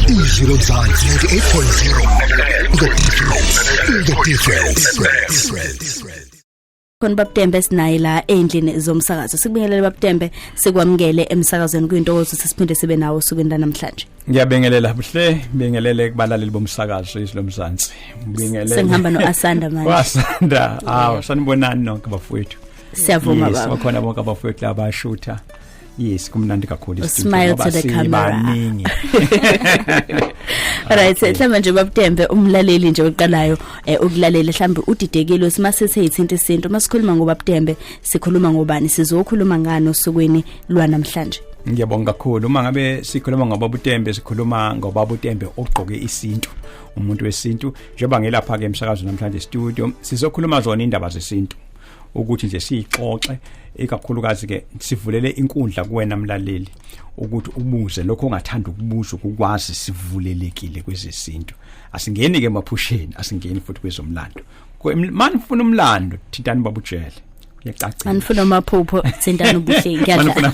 izwi lomzansi 98.0 the difference the difference khona babutembe sinaye la endlini zomsakazo sikubingelele babutembe sikwamukele emsakazweni kuyintokozo sesiphinde sibe nawo usukwini namhlanje ngiyabengelela buhle ngibingelele kubalaleli bomsakazo izilomzansi ngibingelele sengihamba noasanda manje wasanda awu sanibonani nonke bafowethu siyavuma baba yes bakhona bonke abafowethu abashutha Yes, kumnandi kakhulu Smile to the camera. Alright, okay. mhlawumbe nje babutembe umlaleli nje oqalayo eh, ukulalela mhlawumbe udidekile sima sithe ithinta isinto uma sikhuluma ngoba butembe sikhuluma ngobani sizokhuluma ngani osukwini lwanamhlanje. Ngiyabonga kakhulu uma ngabe sikhuluma ngoba butembe sikhuluma ngoba butembe ogqoke isintu umuntu wesintu njengoba ngelapha ke emsakazo namhlanje studio sizokhuluma zona indaba zesintu ukuthi nje siyixoxe ikakhulukazi ke sivulele inkundla kuwena mlaleli ukuthi ubuze lokho ongathanda ukubuza ukwazi sivulelekile kwezesintu asingeni ke maphusheni asingeni futhi kwezomlando manje ufuna umlando thintani babujele yacacile anifuna amaphupho sendana ubuhle ngiyadla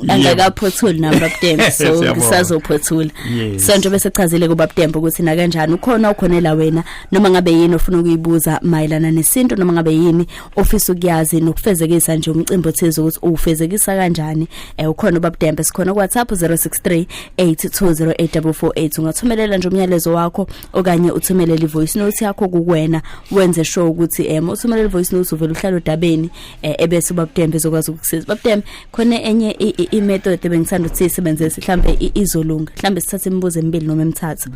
angakaphothuli nami babudembe so ngisazophothula so nje bese chazile kubabudembe ukuthi na kanjani ukhona ukhonela wena noma ngabe yini ofuna ukuyibuza mayelana nesintu noma ngabe yini ofisa ukuyazi nokufezekisa nje umcimbi othize ukuthi uwufezekisa kanjani eh ukhona ubabdembe sikhona ku WhatsApp 063 8208448 ungathumelela nje umyalezo wakho okanye uthumelele ivoice note yakho kuwena wenze sure ukuthi em eh, uthumelele ivoice note uvela uhlala odabeni eh, ebese ubabdembe ezokwazi ukukusiza babdembe khona enye i-method bengisanda ukuthi sisebenzise mhlambe izolunga mhlambe sithathe imibuzo emibili noma emithathu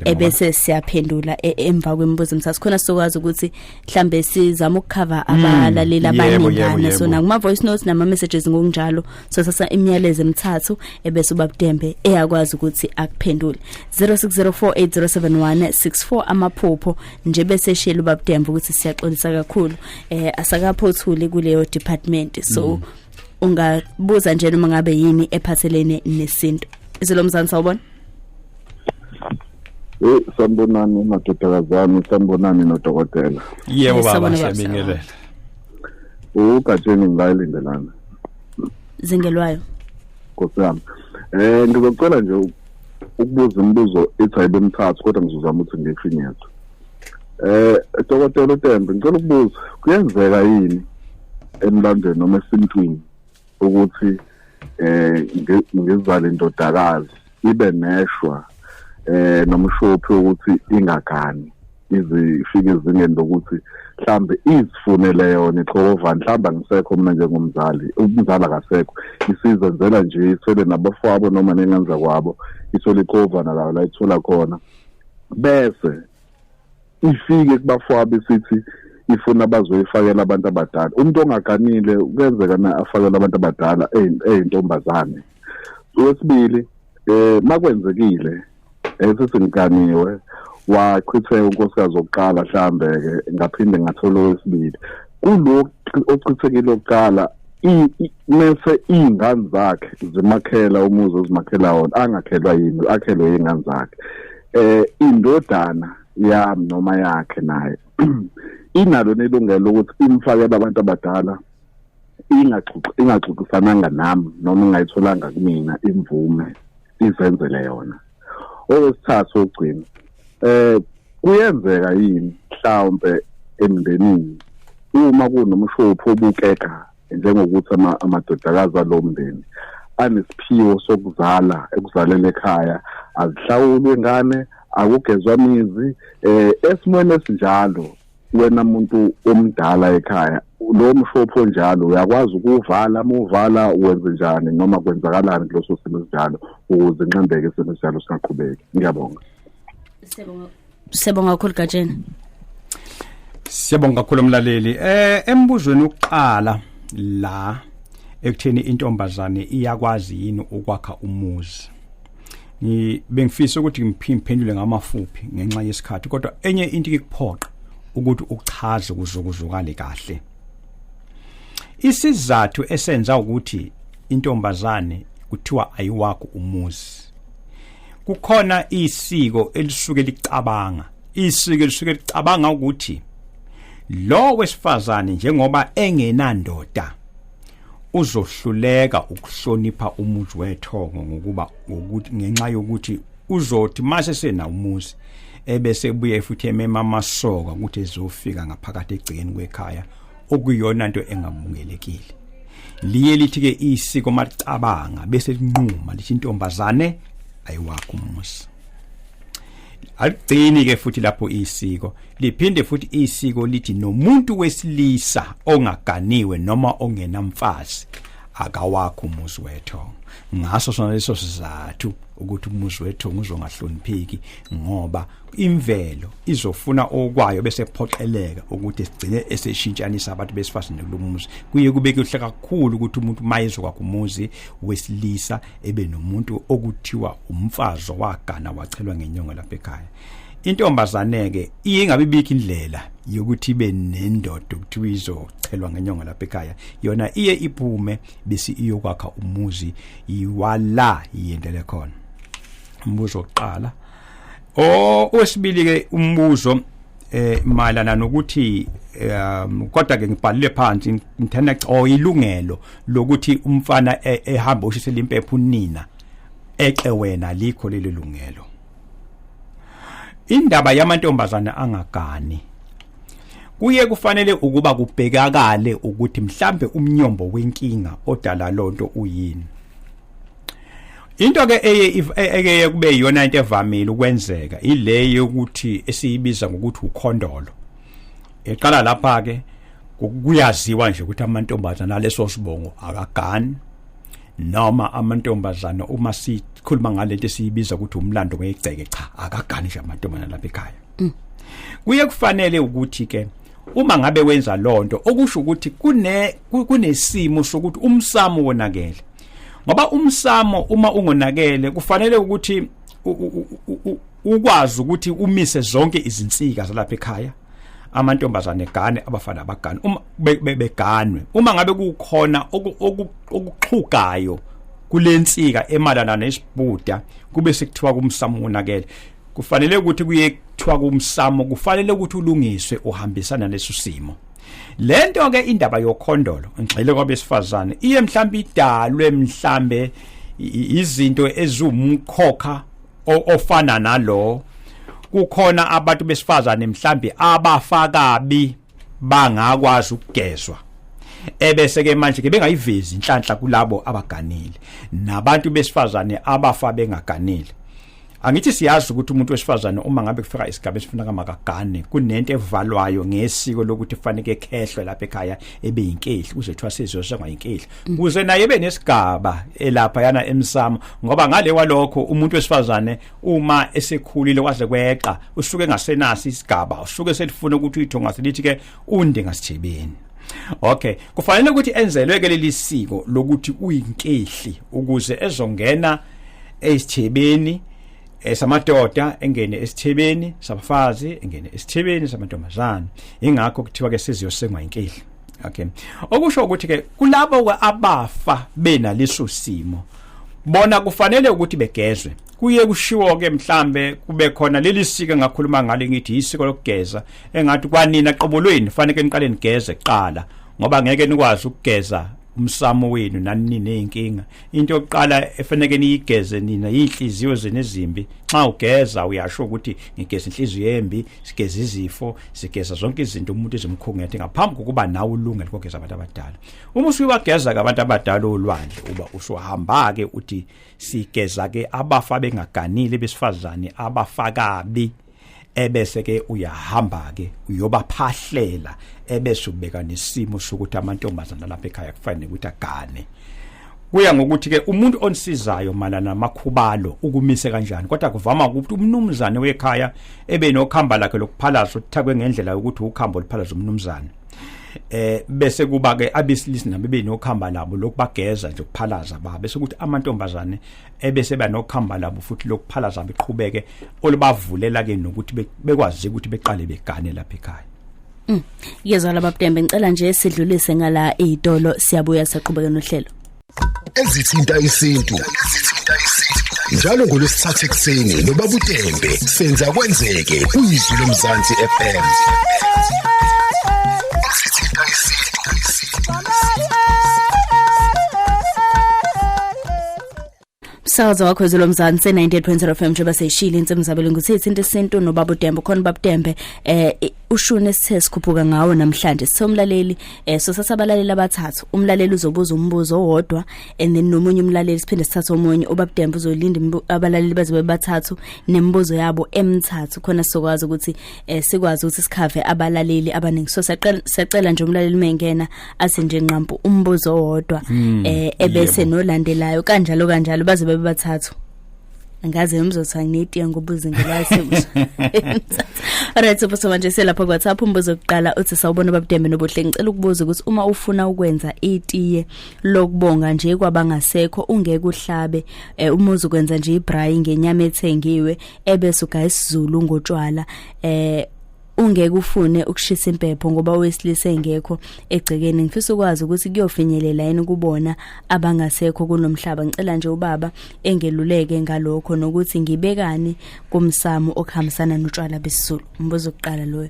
ebese siyaphendula e, emva kwemibuzo emithathu khona sizokwazi ukuthi mhlambe sizama ukukhava hmm. abalaleli abaningana so nakuma voice notes nama messages ngokunjalo so sasa imiyalezo emithathu ebese ubabudembe eyakwazi ukuthi akuphendule 0604807164 amaphupho nje bese shela ubabudembe ukuthi siyaxolisa kakhulu eh asakaphothuli kuleyo department so mm. ungabuza nje noma ngabe yini ephathelene nesintu isilomzansi sawubona Eh sanibonani madodakazi ami sanibonani nodokotela yebo baba siyabingelela ugatsheni ngilayilindelana zingelwayo nkosi yami eh ngizocela nje ukubuza imibuzo ethi ayibe mthathu kodwa ngizozama ukuthi ngiyifinyeze eh dokotela uTembe ngicela ukubuza kuyenzeka yini emlandweni noma esintwini ukuthi eh ngizale indodakazi ibe neshwa eh nomshophi ukuthi ingagani izifike ezingeni lokuthi mhlambe izifunele yona ixova mhlambe angisekho mina njengomzali umzali akasekho isizenzela nje isele nabafowabo noma nenganza kwabo isole ixova nalawo la ithola khona bese ifike kubafwa besithi ifuna bazoyifakela abantu abadala umuntu ongaganile kuyenzeka na afakela abantu abadala eyintombazane wesibili eh makwenzekile esisinganiwe wachitheka unkosikazi wokuqala mhlambe ke ngaphinde ngathola owesibili kulo ochithekile okuqala mese iy'ngane zakhe zimakhela umuzi ozimakhela wona angakhelwa yini akhelwe yingane zakhe eh indodana yami noma yakhe naye inalo nelungelo ukuthi imfakele abantu abadala ingaxoxisananga nami noma ingayitholanga kumina imvume izenzele yona owesithathu ogcina eh kuyenzeka yini mhlawumbe emndenini uma kunomshophi obukeka njengokuthi amadodakazi alo mndeni anesiphiwo sokuzala ekuzalele ekhaya azihlawulwe ngane akugezwa mizi eh esimweni esinjalo wena muntu omdala ekhaya lo mshopho njalo uyakwazi ukuvala muvala wenze njani noma kwenzakalani kuloso simo sinjalo ukuze nxembeke isimo sinjalo singaqhubeki ngiyabonga siyabonga kakhulu gatsheni siyabonga kakhulu mlaleli eh embuzweni uqala la ekutheni intombazane iyakwazi yini ukwakha umuzi ni bengifisa ukuthi ngiphindule ngamafuphi ngenxa yesikhathi kodwa enye into ikuphoqa ukuthi uchaze kuzokuzukale kahle isizathu esenza ukuthi intombazane kuthiwa ayiwakho umuzi kukhona isiko elisuke licabanga isiko elisuke licabanga ukuthi lo wesifazane njengoba engenandoda uzohluleka ukuhlonipha umuzi wethongo ngokuba ngokuthi ngenxa yokuthi uzothi mase sena umuzi ebese buye futhi emema amasoka ukuthi ezofika ngaphakathi egcikeni kwekhaya okuyona into engamungelekile liye lithi ke isiko macabanga bese linquma lithi intombazane ayiwakho umuzi aligcini ke futhi lapho isiko liphinde futhi isiko lithi nomuntu wesilisa ongaganiwe noma ongenamfazi akawakho umuzi wethongo ngaso sona leso sizathu ukuthi umuzi wethongo uzongahlonipheki ngoba imvelo izofuna okwayo bese phoqeleka ukuthi sigcine eseshintshanisa abantu besifazane kulumuzi kuye kube kuhle kakhulu ukuthi umuntu mayezokwakho umuzi wesilisa ebe nomuntu okuthiwa umfazi owagana wachelwa ngenyongo lapha ekhaya intombazane ke ingabe bikho indlela yokuthi ibe nendoda ukuthiwa izochelwa ngenyongo lapha ekhaya yona iye iphume bese iyokwakha umuzi iwala iyendele khona umbuzo oqala o wesibili ke umbuzo eh mayelana nokuthi um kodwa ke ngibhalile phansi ngithanda o ilungelo lokuthi umfana e, ehamba oshisela impepho unina exe wena likho leli lungelo indaba yamantombazana angagani kuye kufanele ukuba kubhekakale ukuthi mhlambe umnyombo wenkinga odala lonto uyini into ke eye eke kube iyona into evamile ukwenzeka ile yokuthi esiyibiza ngokuthi ukhondolo eqala lapha ke kuyaziwa nje ukuthi amantombazana aleso sibongo akagani noma amantombazana uma sikhuluma ngalento esiyibiza ukuthi umlando wegceke cha akagani nje amantombazana lapha ekhaya mm. kuye kufanele ukuthi ke uma ngabe wenza lonto okusho ukuthi kune kunesimo sokuthi umsamo wonakele ngoba umsamo uma ungonakele kufanele ukuthi ukwazi ukuthi umise zonke izinsika zalapha ekhaya amantombazane gane abafana abagane uma beganwe uma ngabe kukhona okuxhugayo kulensika emalana nesibhuda kube sekuthiwa kumsamo wonakele kufanele ukuthi kuyekuthiwa kumsamo kufanele ukuthi ulungiswe uhambisana leso simo lento ke indaba yokhondolo ngixele kwabesifazane iye mhlambe idalwe mhlambe izinto ezumkhokha ofana nalo kukhona abantu besifazane mhlambe abafakabi bangakwazi ukugezwa ebese ke manje ke bengayivezi inhlanhla kulabo abaganile nabantu besifazane abafa bengaganile angithi siyazi ukuthi umuntu wesifazane uma ngabe kufika isigaba esifuna kamakagane kunento evalwayo ngesiko lokuthi kufanele ekhehlwe lapha ekhaya ebe yinkehli kuze kuthiwa sizosengwa yinkehli mm. kuze naye ebe nesigaba elapha yana emsamo ngoba ngale walokho umuntu wesifazane uma esekhulile kwaze kweqa usuke engasenasi isigaba usuke selifuna ukuthi uyithonga selithi ke undi ngasithebeni Okay, kufanele ukuthi enzelwe ke leli siko lokuthi uyinkehli ukuze ezongena esithebeni esamadoda engene esithebeni sabafazi engene esithebeni samantombazane ingakho kuthiwa ke siziyosengwa inkehli okay okusho ukuthi ke kulabo abafa bena leso simo bona kufanele ukuthi begezwe kuye kushiwo ke mhlambe kube khona leli sika ngakhuluma ngalo ngithi isiko lokugeza engathi kwanina qobo lweni faneke niqale nigeze kuqala ngoba ngeke nikwazi ukugeza umsamo wenu nani nenkinga into yokuqala efaneke niyigeze nina inhliziyo zenu ezimbi xa ugeza uyasho ukuthi ngigeza inhliziyo embi sigeza izifo sigeza zonke izinto umuntu ezimkhungethe ngaphambi kokuba nawe ulungele kogeza abantu abadala uma usuyiwageza ke abantu abadala olwandle uba usuhamba ke uthi sigeza ke abafa bengaganile besifazane abafakabi ebese ke uyahamba ke uyobaphahlela ebese ubeka nesimo sokuthi amantombazana lapha ekhaya kufanele ukuthi agane kuya ngokuthi ke umuntu onisizayo malana makhubalo ukumise kanjani kodwa kuvama ukuthi umnumzane wekhaya ebe nokhamba lakhe lokuphalaza uthakwe ngendlela yokuthi ukhambo liphalaza umnumzane eh bese kuba ke abesilisa nabo benokhamba labo lokubageza nje ukuphalaza ba bese ukuthi amantombazane ebese banokuhamba labo futhi lokuphalaza beqhubeke olubavulela ke nokuthi bekwazi ukuthi beqale begane lapha ekhaya mm. Yezwa laba Btembe ngicela nje sidlulise ngala izitolo siyabuya saqhubeka nohlelo ezithinta isintu ezithinta isintu njalo ngolwesithathu ekuseni nobabutembe senza kwenzeke kuyizwi lomzansi FM ezithinta isintu umsakazo wakho ezolo mzansi 98.0 FM njengoba seyishile insimu zabelo ngithe isinto isinto nobaba uDembe khona baba uDembe eh ushune sithe sikhuphuka ngawo namhlanje sithe umlaleli eh so sasabalaleli abathathu umlaleli uzobuza umbuzo owodwa and then nomunye umlaleli siphinde sithathe omunye ubaba uDembe uzolinda abalaleli bazobe bathathu nemibuzo yabo emithathu khona sizokwazi ukuthi eh sikwazi ukuthi sikhave abalaleli abaningi so siyacela nje umlaleli mengena athi nje nqampu umbuzo owodwa hmm, eh ebese nolandelayo kanjalo kanjalo baze bebe bathathu ngaze ngizothiwa nginetiye ngoba uzingelazi Alright sipho manje selapha kwa WhatsApp umbuzo oqala uthi sawubona babudembe nobuhle ngicela ukubuza ukuthi uma ufuna ukwenza itiye lokubonga nje kwabangasekho ungeke uhlabe eh, umuzi ukwenza nje ibrayi ngenyama ethengiwe ebese ugaya isizulu ngotshwala eh ungeke ufune ukushisa impepho ngoba owesilisa engekho egcekeni ngifisa ukwazi ukuthi kuyofinyelela yini kubona abangasekho kunomhlaba ngicela nje ubaba engeluleke ngalokho nokuthi ngibekani kumsamo okuhambisana notshwala besizulu umbuzo oqala loyo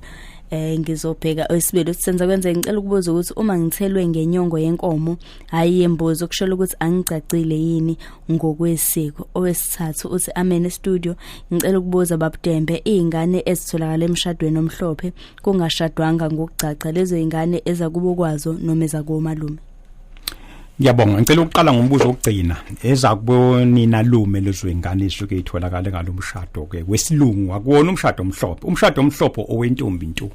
eh ngizobheka oisibili ukuthi senza kwenze ngicela ukubuza ukuthi uma ngithelwe ngenyongo yenkomo hayi yembozo kushola ukuthi angigcagcile yini ngokwesiko owesithathu uthi amen estudio ngicela ukubuza babudembe izingane ezitholakala emshadweni omhlophe kungashadwanga ngokugcagca lezo izingane ezakubo kwazo noma ezakomalume Ngiyabonga ngicela ukuqala ngombuzo wokugcina eza kubonina lume lezwengane isuke itholakala ngalomshado ke wesilungu akuwona umshado omhlophe umshado omhlophe owentombi nto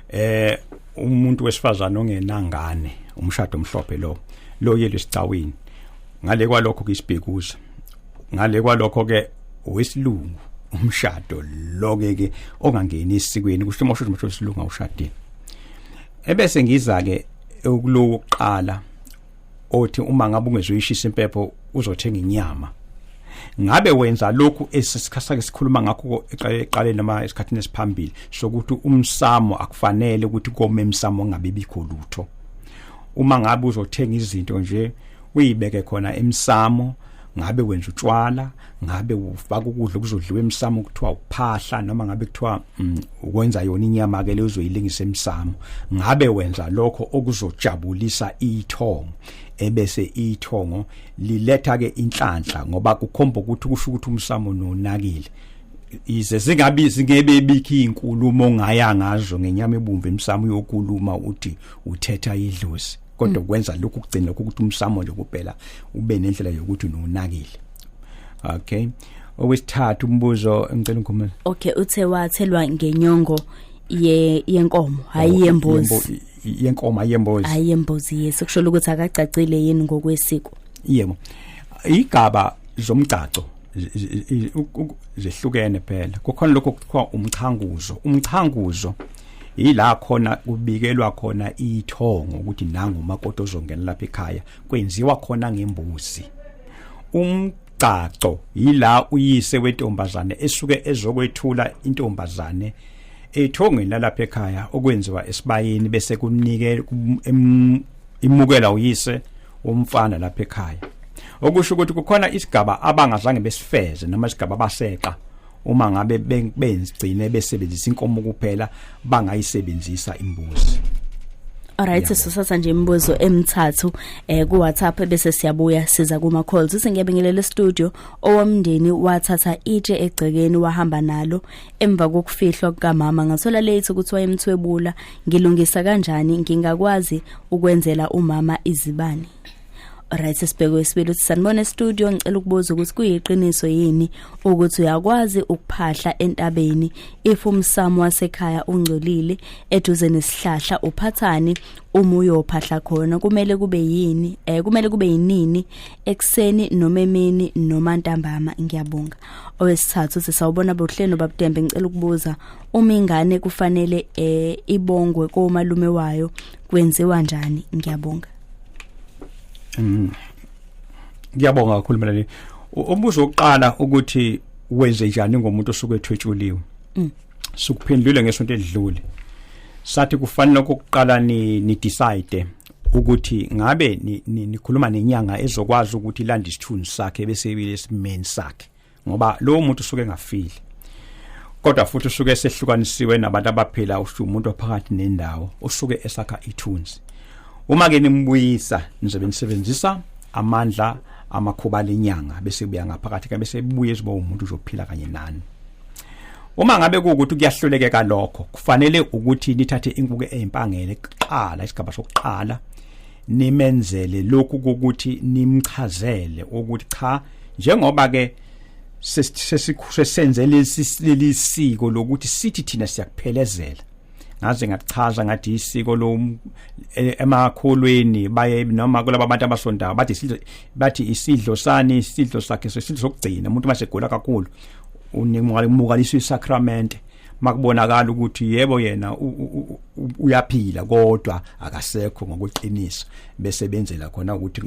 eh umuntu wesifazana ongenangane umshado omhlophe lo lo yelo isicawini ngale kwalokho kisibhekuza ngale kwalokho ke wesilungu umshado loke ke ongangeni isikweni kusho mosho ukuthi usilunga ushadile ebese ngiza ke ukulokuqala othi uma ngabe ungezoyishisa impepho uzothenga inyama ngabe wenza lokhu esikhasake sikhuluma ngakho eqaleni noma esikhathini esiphambili sokuthi umsamo akufanele ukuthi kome emsamo ngabe bikho lutho uma ngabe uzothenga izinto nje uyibeke khona emsamo ngabe wenza utshwala ngabe ufaka ukudla okuzodliwa emsamo kuthiwa uphahla noma ngabe kuthiwa mm, ukwenza yona inyama ke leyo uzoyilingisa emsamo ngabe wenza lokho okuzojabulisa ithongo ebese ithongo liletha ke inhlanhla ngoba kukhomba ukuthi kusho ukuthi umsamo nonakile ize zingabizi ngebe bikhi inkulumo ngaya ngazo ngenyama ebumvu emsamo yokuluma uthi uthetha idlozi kodwa mm. kwenza lokhu kugcina ukuthi umsamo nje kuphela ube nendlela yokuthi nonakile okay owesithathu umbuzo ngicela ngikhumule okay uthe wathelwa ngenyongo ye yenkomo hayi oh, yembuzi yenkomo hayi yembuzi hayi yembuzi yes kusho ukuthi akagcacile yini ngokwesiko yebo igaba zomgcaco zehlukene phela kukhona lokho kuthiwa umchanguzo umchanguzo yila khona kubikelwa khona ithongo ukuthi nangu umakoti ozongena lapha ekhaya kwenziwa khona ngembuzi umgcagco yila uyise wentombazane esuke ezokwethula intombazane ethongweni lalapha ekhaya okwenziwa esibayeni bese kunike imukela uyise umfana lapha ekhaya okusho ukuthi kukhona isigaba abangazange besifeze noma isigaba baseqa uma ngabe bengcine besebenzisa inkomo kuphela bangayisebenzisa imbuzi Alright sisathatha nje imibuzo emithathu eh ku WhatsApp bese siyabuya siza kuma calls singebingelele studio owomndeni wathatha itshe egcekeni wahamba nalo emva kokufihlwa kukamama ngathola late ukuthi wayemthwebula ngilungisa kanjani ngingakwazi ukwenzela umama izibani Alright sesibheke wesibili uthi sanibona studio ngicela ukubuza ukuthi kuyiqiniso yini ukuthi uyakwazi ukuphahla entabeni if umsamo wasekhaya ungcolile eduze nesihlahla uphathani uma uyophahla khona kumele kube yini eh kumele kube yinini ekseni noma emini noma ntambama ngiyabonga owesithathu sisawubona bohleno babudembe ngicela ukubuza uma ingane kufanele eh ibongwe komalume wayo kwenziwa njani ngiyabonga mm. ngiyabonga kakhulu mlaleli umbuzo wokuqala ukuthi wenze njani ngomuntu osuke ethwetshuliwe mm. sukuphendule ngesonto edlule sathi kufanele ukuqala ni, ni decide ukuthi ngabe nikhuluma ni, ni nenyanga ezokwazi ukuthi ilanda isithunzi sakhe bese ibe lesimeni sakhe ngoba lowo muntu usuke engafile kodwa futhi usuke esehlukanisiwe nabantu abaphila usho umuntu ophakathi nendawo usuke esakha ithunzi uma ke nimbuyisa nizobe nisebenzisa amandla amakhuba lenyanga bese kuya ngaphakathi ke bese buye ziba umuntu uzophila kanye nani uma ngabe kuukuthi kuyahlulekeka lokho kufanele ukuthi nithathe inkuku ezimpangele kuqala isigaba sokuqala nimenzele lokhu ukuthi nimchazele ukuthi cha njengoba ke sesisenze leli siko lokuthi sithi thina siyakuphelezela ngaze ngachaza ngathi isiko lo e, emakholweni baye noma kulabo abantu abasondayo bathi isidlo bathi isidlo sani isidlo sakhe isidlo sokugcina umuntu mase gula kakhulu unimukalisa isacrament makubonakala ukuthi yebo yena uyaphila kodwa akasekho ngokweqiniso bese benzela khona ukuthi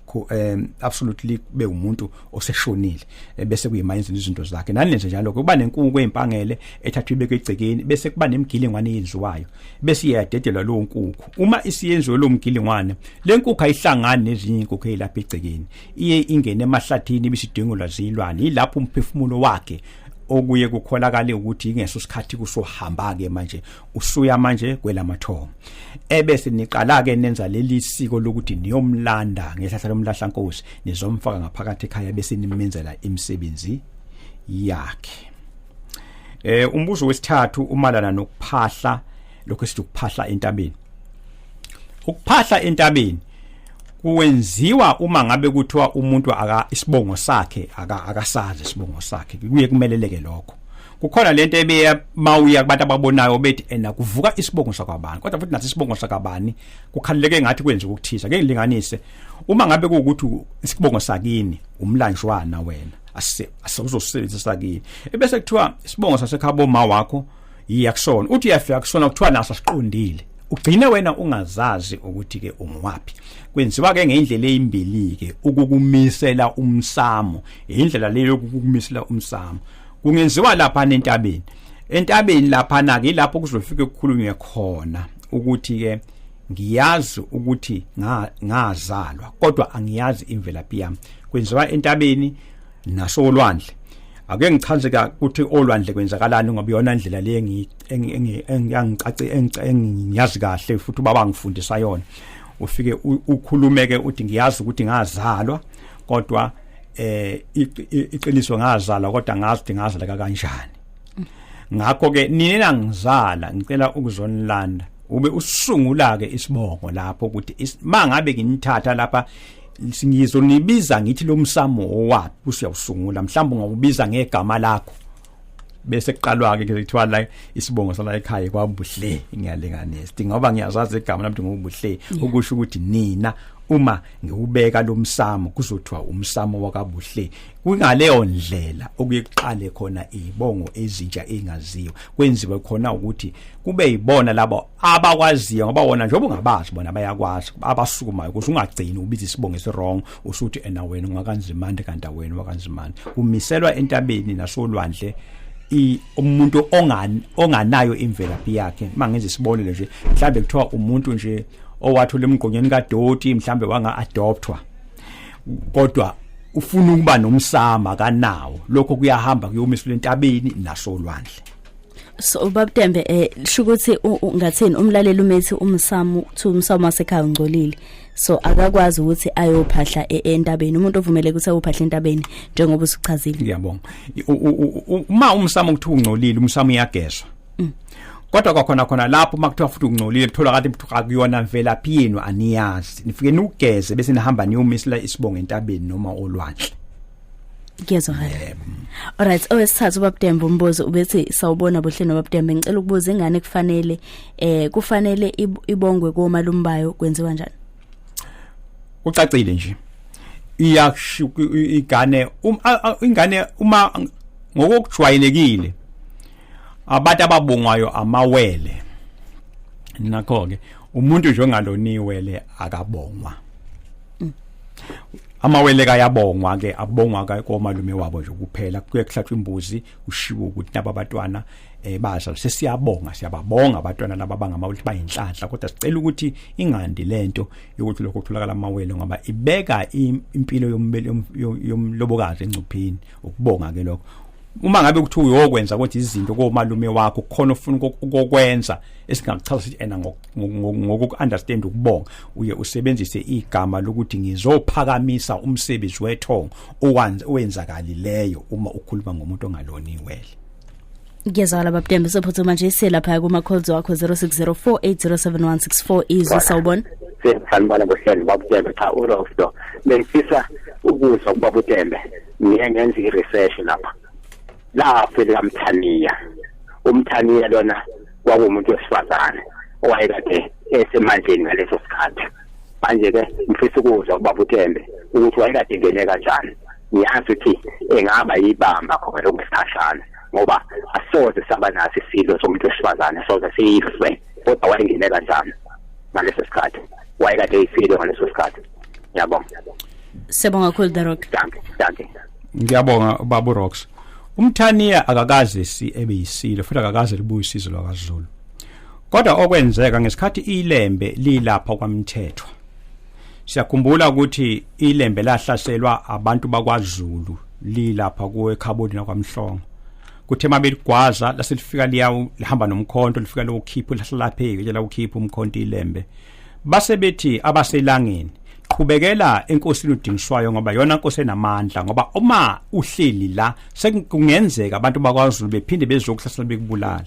ku um absolutely kube umuntu oseshonile eh, bese kuyimayenzini izinto zakhe nani nje njalo kuba nenkungu ezimpangele ethathwa ibeke egcekeni bese kuba nemgilingwane eyenziwayo bese iyadedelwa lo nkungu uma isiyenziwe lo mgilingwane le nkungu ayihlangani nezinye inkukhu elapha egcekeni iye ingene emahlathini ibisidingolwa zilwane yilapho umphefumulo wakhe okuye kukholakala ukuthi ingeso sikhathi kusohamba ke manje usuya manje kwelamathongo ebese niqala ke nenza leli siko lokuthi niyomlanda ngehlahla lomlahla nkosi nizomfaka ngaphakathi ekhaya bese nimenzela imisebenzi yakhe eh umbuzo wesithathu umalana nokuphahla lokho esithi ukuphahla entabeni ukuphahla entabeni kuwenziwa uma ngabe kuthiwa umuntu aka isibongo sakhe aka akasazi isibongo sakhe kuye kumeleleke lokho kukhona lento ebeya mawuya kubantu ababonayo bethi ena eh, kuvuka isibongo sakabani kodwa futhi nathi isibongo sakabani kukhaleleke ngathi kwenza ukuthiza ngeke ngilinganise uma ngabe kuwukuthi isibongo sakini umlanjwana wena ase asuzosebenzisa kini ebese kuthiwa isibongo sasekhabo ma wakho yiya kusona uthi uyafika kusona kuthiwa naso siqondile ugcine wena ungazazi ukuthi ke ungiwaphi kwenziwa ke ngendlela eyimbili ke ukukumisela umsamo indlela leyo yokukumisela umsamo kungenziwa lapha nentabeni entabeni lapha na ke lapho kuzofike kukhulunywe khona ukuthi ke ngiyazi ukuthi ngazalwa kodwa angiyazi imvelaphi yami kwenziwa entabeni nasolwandle ake ngichaze ukuthi olwandle kwenzakalani ngoba iyona ndlela le engicaci engiyazi kahle futhi ubaba ngifundisa yona ufike ukhulumeke uthi ngiyazi ukuthi ngazalwa kodwa eh iqiniso ngazala kodwa ngazi ngazaleka kanjani ngakho ke nina ngizala ngicela ukuzonilanda ube usungula ke isibongo lapho ukuthi mangabe nginithatha lapha ngizonibiza ngithi lomsamo owaphi usiyawusungula mhlawumbe ngawubiza ngegama lakho bese kuqalwa-ke kuthiwa la isibongo sala ekhaya kwabuhle ngiyalinganisa thi ngoba ngiyazazi igama lami ngokubuhle ukusho ukuthi nina uma ngiwubeka lo msamo kuzothiwa umsamo wakabuhle kungaleyo ndlela okuye kuqale khona izibongo ezintsha engaziwa kwenziwe khona ukuthi kube yibona labo abakwaziyo ngoba wona njengoba ungabazi bona bayakwazi abasukumayo ukuthi ungagcini ubiza isibongo esiwrong usuthi ena wena ungakanzimande kanti wena wakanzimande umiselwa entabeni nasolwandle umuntu onganayo imvelaphi yakhe mangenza isibonelo nje mhlambe kuthiwa umuntu nje owathola emgqonyeni kadoti mhlambe wanga adoptwa kodwa ufuna ukuba nomsama kanawo lokho kuyahamba kuyomiswa entabeni nasolwandle so ubabutembe eh shukuthi ngathini umlaleli umethi umsamu kuthi umsamu wasekhaya ungcolile so akakwazi ukuthi ayophahla e-, entabeni umuntu ovumeleke ukuthi ayophahla entabeni njengoba usuchazile ngiyabonga uma umsamu kuthi ungcolile umsamu uyagezwa mm. kodwa kwakhona khona lapho makuthiwa futhi ungcolile kuthola kade mthu akuyona mvelaphi yenu aniyazi nifike nugeze bese nihamba niyomisela isibongo entabeni noma olwandle Ngiyezwakala. Yep. Alright, owesithathu oh, ubabdembe umbuzo ubethi sawubona buhleni babdembe ngicela ukubuza ingane kufanele eh kufanele ibongwe komalumbayo kwenziwa njani? Ucacile nje. Iyakusho igane um, ingane uma ngokujwayelekile abantu ababongwayo amawele nakho ke umuntu nje ongaloniwele akabongwa mm. amawele kayabongwa ke abongwa ka komalume wabo nje kuphela kuye kuhlatshwa imbuzi ushiwo ukuthi naba batwana eh bazali sesiyabonga siyababonga abatwana laba bangamawele bayinhlanhla kodwa sicela ukuthi ingandi lento yokuthi lokho kutholakala amawele ngoba ibeka impilo yombele yomlobokazi engcupheni ukubonga ke lokho uma ngabe kuthi uyokwenza kodwa izinto komalume wakho khona ufuna ukokwenza esingakuchaza sithi ena ngokuunderstand ukubonga uye usebenzise igama lokuthi ngizophakamisa umsebenzi wethongo owenza kalileyo uma ukhuluma ngomuntu ongaloni iwele ngiyezwakala babudembe sophuthuma nje siye lapha kuma-calls wakho 0604807164 izwi sawubona sengifalibala ngohlelo babutembe cha urof lo bengifisa ukuzwa ukuba butembe ngiye ngenza i-research lapha lapho likamthaniya umthaniya lona kwakuwumuntu wesifazane owayekade esemandleni ngaleso sikhathi manje ke ngifisa ukuzwa ubaba uTembe ukuthi wayekade ngene kanjani ngiyazi ukuthi engaba yibamba khona lokusikhashana ngoba asoze saba naso isilo somuntu wesifazane soze siyife kodwa wayengene kanjani ngaleso sikhathi wayekade eyifile ngaleso sikhathi ngiyabonga siyabonga kakhulu the rock danke danke ngiyabonga babu rocks umthaniya akakaze si ebe yisilo futhi akakaze libuye usizo lwakazulu kodwa okwenzeka ngesikhathi ilembe lilapha kwamthethwa siyakhumbula ukuthi ilembe lahlaselwa abantu bakwaZulu lilapha kuwekhabodi nakwamhlongo kuthe uma beligwaza lase lifika liyawu lihamba nomkhonto lifika lokukhipha lahlalapheke ke lokukhipha umkhonto ilembe base bethi abaselangeni qhubekela enkosini udingiswayo ngoba yona nkosi enamandla ngoba uma uhleli la sekungenzeka abantu bakwaZulu bephinde bezokuhlasela bekubulala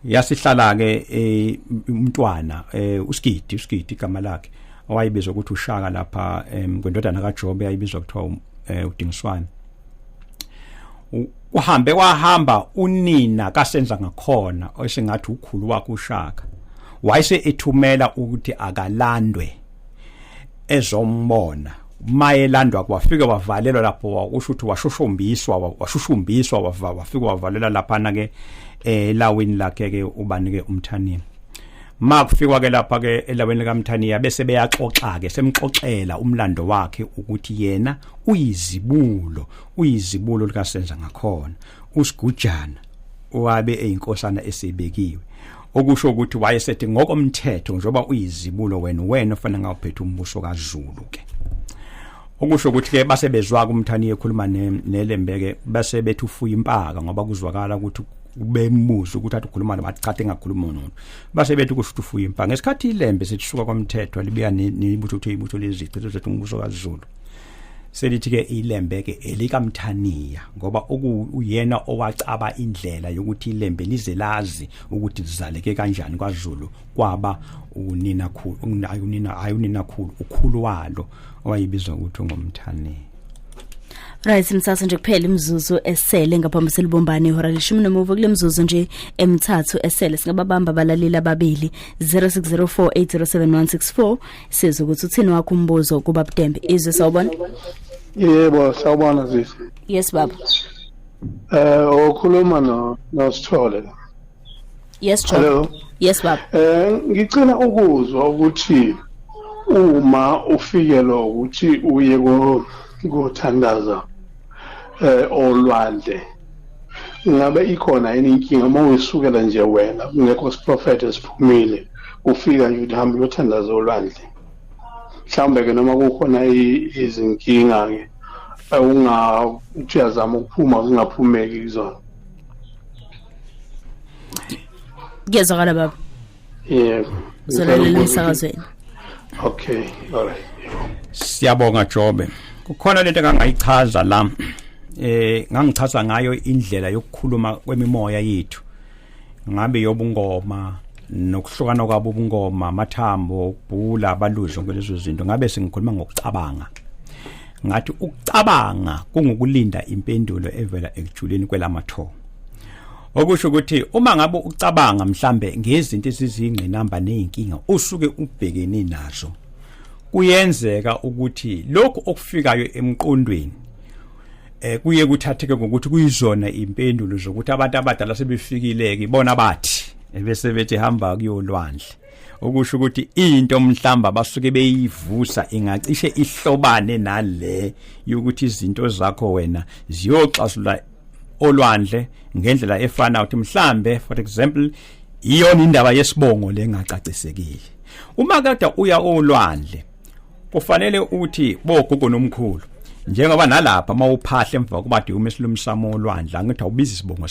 yasihlala ke eh, umntwana eh, uSigidi uSigidi igama lakhe owayebizwa ukuthi uShaka lapha kwendodana kaJobe ayibizwa kuthiwa um, eh, uDingiswane uhambe wahamba unina kasenza ngakhona osingathi ukhulu wakhe uShaka wayese ethumela ukuthi akalandwe ezombona mayelandwa kwafike wavalelwa lapho wakusho ukuthi washushumbiswa washushumbiswa wafike wavalela lapha na ke elawini eh, lakhe ke ubani ke umthanini makufikwa ke lapha ke elawini likamthaniya bese beyaxoxa ke semxoxela umlando wakhe ukuthi yena uyizibulo uyizibulo likasenza ngakhona usigujana owabe eyinkosana esibekiwe okusho ukuthi wayesethi ngokomthetho njengoba uyizibulo wena wena ofanele ngawuphethe umbuso kaZulu ke okusho ukuthi ke base bezwa kumthani ekhuluma nelembeke base bethi ufuya impaka ngoba kuzwakala ukuthi ubembuza ukuthi athi ukhuluma nabathi cha engakhuluma nomuntu base bethi kusho ukuthi ufuya impaka ngesikhathi ilembe sithusuka kwamthetho libuya nibutho ukuthi ibutho lezici zethu umbuso kaZulu selithi ke ilembe ke elikamthaniya ngoba uyena owacaba indlela yokuthi ilembe lize lazi ukuthi lizaleke kanjani kwaZulu kwaba unina khulu unina hayi unina khulu ukhulu walo owayibizwa ukuthi ngomthaniya Right msasa nje kuphela imizuzu esele ngaphambi selibombane ihora leshumi nomuva kule mizuzu nje emithathu esele singababamba abalaleli ababili 0604807164 sizwe ukuthi uthini wakho umbuzo kuba butembe izwe sawubona yebo sawubona zisi yes baba eh uh, okhuluma no nosithole yes John. hello yes baba eh uh, ngicela ukuzwa ukuthi uma ufikelwa ukuthi uye kothandaza eh olwandle ngabe ikhona yini inkinga uma uyisukela nje wena kungekho siprofetho esiphumile ufika nje ukuthi hambe uyothandaza olwandle mhlawumbe-ke noma kukhona izinkinga-ke uthi uyazama ukuphuma zingaphumeki kuzona kuyezwakala baba yebo zolalela emsakazweni okay all right siyabonga jobe kukhona lento engangayichaza la eh ngangichaza ngayo indlela yokukhuluma kwemimoya yethu ngabe yobungoma nokuhlukana kwabo ubungoma amathambo ubhula abaluzo ngelezo zinto ngabe sengikhuluma ngokucabanga ngathi ukucabanga kungukulinda impendulo evela ekujuleni kwelamathongo okusho ukuthi uma ngabe ucabanga mhlambe ngezinto esizingqinamba nezinkinga usuke ubhekene nazo kuyenzeka ukuthi lokho okufikayo emqondweni eh kuye kuthatheke ngokuthi kuyizona impendulo zokuthi abantu abadala sebefikileke ibona bathi ebese bethi hamba kuyolwandle okusho ukuthi into mhlamba basuke beyivusa ingacishe ihlobane nale yokuthi izinto zakho wena ziyoxasula olwandle ngendlela efana ukuthi mhlambe for example iyona indaba yesibongo lengacacisekile uma kade uya olwandle kufanele uthi bogogo nomkhulu njengoba nalapha mawuphahle emva kuba diyume silumsamo olwandla ngithi awubizi isibongo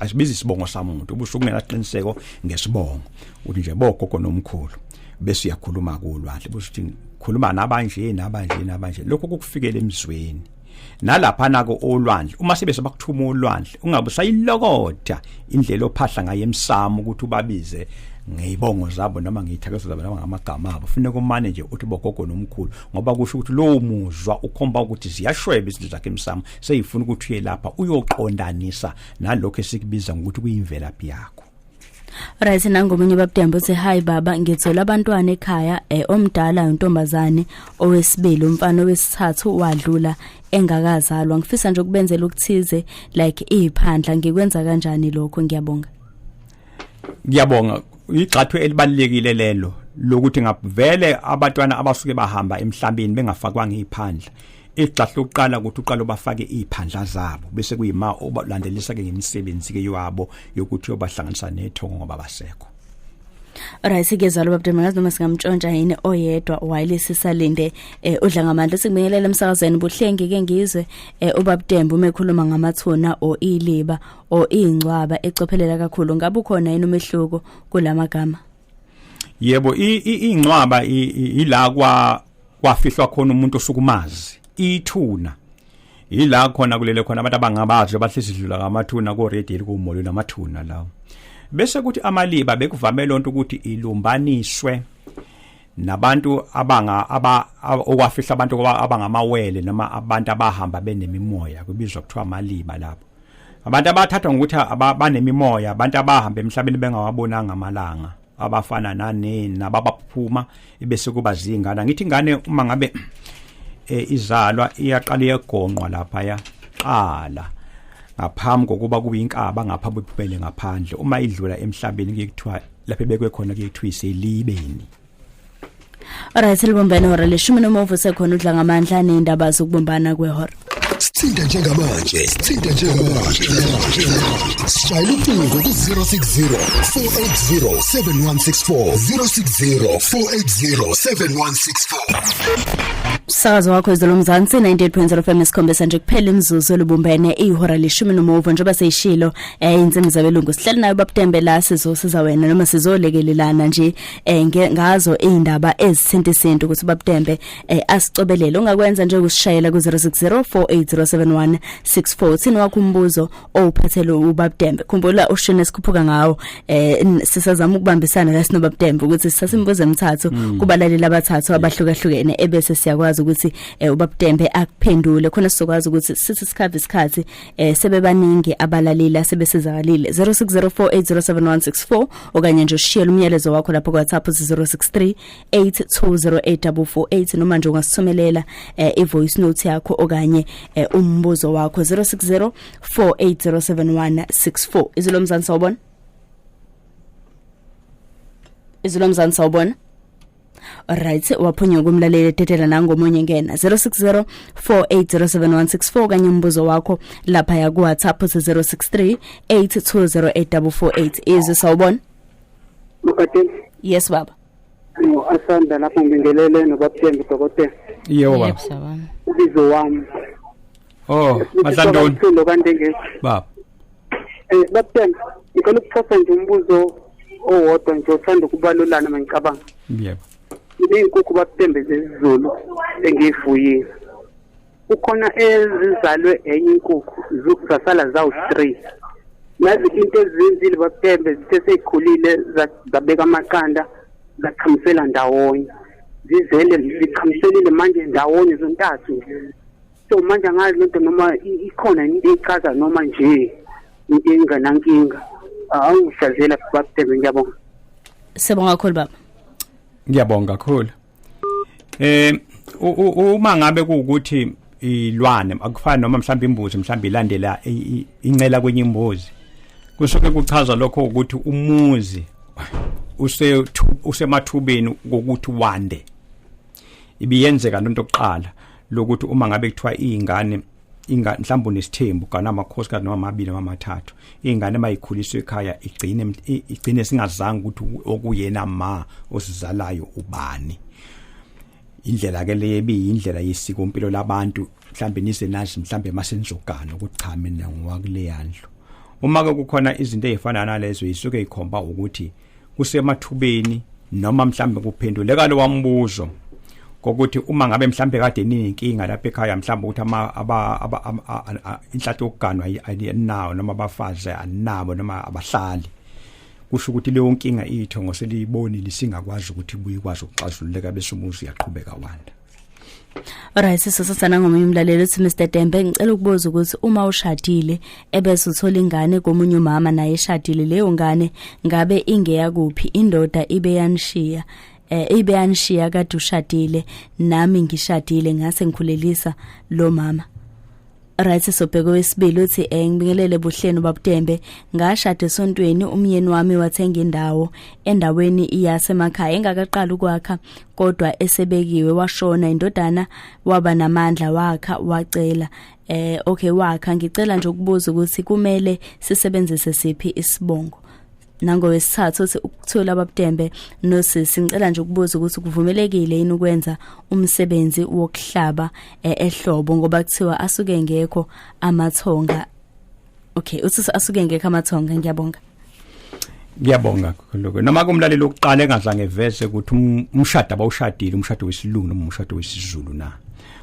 asibizi isibongo samuntu ubusuku ngenaqiniseko ngesibongo uthi nje bogogo nomkhulu bese uyakhuluma kulwandle busuthi khuluma nabanje nabanje nabanje lokho kukufikela emzweni nalapha nako olwandle uma sebe sebakuthuma olwandle ungabe usayilokotha indlela ophahla ngayo emsamo ukuthi ubabize ngeyibongo zabo noma ngiyithakezo zabo noma ngamagama abo funeka umane nje uthi bogogo nomkhulu ngoba kusho ukuthi lowo muzwa ukhomba ukuthi ziyashweba izinto zakhe emsamo seyifuna ukuthi uye lapha uyoqondanisa nalokho esikubiza ngokuthi kuyimvelaphi yakho right nangomunye babudemba uthi hi baba ngithola abantwana ekhaya eh, omdala untombazane owesibili umfana owesithathu wadlula engakazalwa ngifisa nje ukubenzela ukuthize like iphandla ngikwenza kanjani lokho ngiyabonga ngiyabonga igxathu elibalekile lelo lokuthi ngavele abatwana abasuke bahamba emhlabeni bengafakwanga iphandla igxahle lokuqala ukuthi uqala bafake iziphandla zabo bese kuyima obalandelisa ke ngemisebenzi ke yabo yokuthi obahlanganisa nethongo ngoba basekho Alright sikezalo babde mangazi noma singamtshontsha yini oyedwa while sisalinde eh udla ngamandla sikubingelela emsakazweni buhlengi ke ngizwe eh ubabdembu umekhuluma ngamathuna o iliba o ingcwaba ecophelela kakhulu ngabe ukhona yini umehluko kulamagama Yebo ingcwaba ila kwa kwafihlwa khona umuntu osukumazi ithuna yila khona kulele khona abantu abangabazi abahlezi dlula ngamathuna ko radio kumolo namathuna lawo bese kuthi amaliba bekuvame lonto ukuthi ilumbaniswe nabantu abanga aba okwafihla abantu abangamawele noma abantu abahamba benemimoya kubizwa kuthiwa amaliba lapho abantu abathathwa ngokuthi abanemimoya abantu abahamba emhlabeni bengawabonanga amalanga abafana nani nababaphuma ibese kuba zingane ngithi ingane uma ngabe e, izalwa iyaqala iyegonqwa lapha ya qala ngaphambi kokuba kube inkaba ngapha buphumele ngaphandle uma idlula emhlabeni kuyekuthiwa lapha bekwe khona kuyekuthiwa iselibeni Alright libumbene hora leshumi nomuvu sekhona udla ngamandla nendaba zokubumbana kwehora sithinta njengamanje sithinta njengamanje sishayela ucingo ku-060 480 7164 060 480 7164 umsakazo wakho izolo mzansi 98.0 FM esikhombisa nje kuphela imizuzu olubumbene ihora leshumi nomuvo njengoba seyishilo eh insimbi zabelungu sihleli nayo babutembela sizosiza wena noma sizolekelelana nje eh ngazo izindaba ezithinta isintu ukuthi babutembe eh asicobelele ungakwenza nje ukusishayela ku 0604807164 thina wakho umbuzo owuphathele ubabutembe khumbula ushini esikhuphuka ngawo eh sisazama ukubambisana la sino babutembe ukuthi sisasimbuze emithathu mm. kubalaleli abathathu abahlukahlukene ebese siyakwazi ukuthi eh, ubabutembe akuphendule khona sizokwazi ukuthi sithi sikhave isikhathi eh sebebaningi abalaleli asebesezakalile 0604807164 okanye nje ushiyele umyalezo wakho lapho kwaTsapho 0638208448 noma nje ungasithumelela eh, ivoice note yakho okanye eh, umbuzo wakho 0604807164 izilo mzansi sawubona izilo mzansi sawubona right waphunywa kumlaleli etetela nangomunye ngena 060 4807164 kanye umbuzo wakho lapha ya ku WhatsApp 063 8208448 izwe sawubona Mkhathini yes baba no asanda lapho ngingelele nobabthembi dokotela yebo baba ubizo wami Oh, Mahlantoni. Silo kanje nje. Baba. Eh, babuthen, ngicela ukuthosa nje umbuzo owodwa nje othanda ukubalulana mangicabanga. Yebo. Izinkukhu babuthembe zezizulu engiyifuyile. Kukhona ezizalwe enye inkukhu, zasala zawu 3. Nazi into ezenzile babuthembe zithe seyikhulile zabeka amaqanda zaqhamisela ndawonye. Zizele ziqhamiselile manje ndawonye zontathu. so manje angazi lento noma ikhona into echaza noma nje into enganankinga awungihlazela babhebe ngiyabonga sibonga kakhulu baba ngiyabonga kakhulu eh uma ngabe kuukuthi ilwane akufana noma mhlawumbe imbuzi mhlawumbe ilandela incela kwenye imbuzi kusuke kuchaza lokho ukuthi umuzi usemathubeni kokuthi wande ibiyenzeka lento kuqala lokuthi uma ngabe kuthiwa izingane inga mhlawumbe unesithembu kana amakhosi kanoma amabili noma amathathu ingane mayikhuliswe ekhaya igcine igcine singazange ukuthi okuyena ma osizalayo ubani indlela ke le biyindlela yesiko impilo labantu mhlambe nise nazi mhlambe masenzogana ukuthi cha mina ngowakule yandlu uma ke kukhona izinto ezifana nalezo isuke ikhomba ukuthi kusemathubeni noma mhlambe kuphenduleka lo wambuzo kokuthi uma ngabe mhlambe kade ninenkinga lapha ekhaya mhlambe ukuthi ama inhlathi yokuganwa ayinawo noma abafazi anabo noma abahlali kusho ukuthi leyo nkinga itho ngoseliyibonile singakwazi ukuthi buyikwazi ukuxazululeka bese umuzi uyaqhubeka wanda Alright sisosana ngomunye umlaleli uthi Mr Dembe ngicela ukubuza ukuthi uma ushadile ebese uthola ingane komunye umama naye eshadile leyo ngane ngabe ingeya kuphi indoda ibe yanishiya eh ibe yanishiya kade ushadile nami ngishadile ngase ngikhulelisa lo mama right sobheka wesibili uthi eh ngibingelele buhleni babutembe ngashada esontweni umyeni wami wathenga indawo endaweni iyasemakhaya engakaqala ukwakha kodwa esebekiwe washona indodana waba namandla wakha wacela eh okay wakha ngicela nje ukubuza ukuthi kumele sisebenzise siphi isibongo nangowesithathu uthi ukuthola ababutembe nosisi ngicela nje ukubuza ukuthi kuvumelekile yini ukwenza umsebenzi wokuhlaba eh, ehlobo ngoba kuthiwa asuke ngekho amathonga okay uthi asuke ngekho amathonga ngiyabonga ngiyabonga lokho noma kumlaleli oqala engazange vese ukuthi um, umshado abawushadile umshado wesilungu noma umshado wesizulu na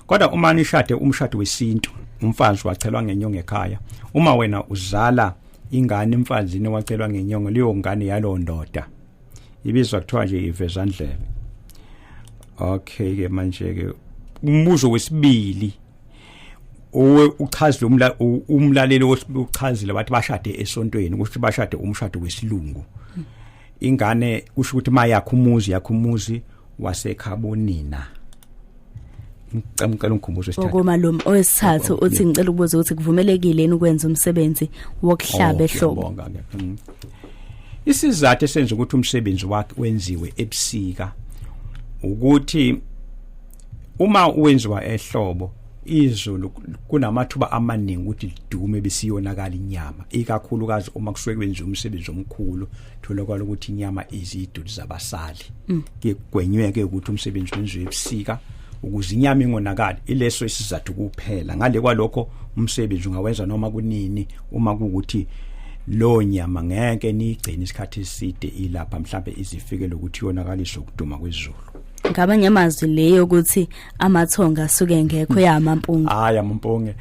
kodwa uma nishade umshado wesintu umfazi wachelwa ngenyonge ekhaya uma wena uzala ingane emfazini wacelwa ngenyongo leyo ngane yalo ndoda ibizwa kuthiwa nje ivezandlebe okay ke manje ke umbuzo wesibili uchaza umla umlaleli ochazile wathi bashade esontweni ukuthi bashade umshado wesilungu ingane kusho ukuthi ma yakho umuzi yakho umuzi wasekhabonina ngicela ngicela ungikhumbuze isithathu ukoma lo owesithathu uthi ngicela ukubuza ukuthi kuvumelekile yini ukwenza umsebenzi wokuhlaba oh, ehlobo mm. isizathu esenza ukuthi umsebenzi wakhe wenziwe ebusika ukuthi uma wenziwa ehlobo izulu kunamathuba amaningi ukuthi lidume besiyonakala inyama ikakhulukazi uma kusuke kwenziwa umsebenzi omkhulu tholakala ukuthi inyama iziduli zabasali mm. kugwenyweke ukuthi umsebenzi wenziwe ebusika ukuze inyama ingonakali ileso isizathu kuphela ngale kwalokho umsebenzi ungawenza noma kunini uma kukuthi lo nyama ngeke niyigcine isikhathi eside ilapha mhlambe izifike lokuthi yonakaliswe ukuduma kwezulu ngabanye amazwi leyo ukuthi amathonga asuke engekho ya mampunge hayi amampunge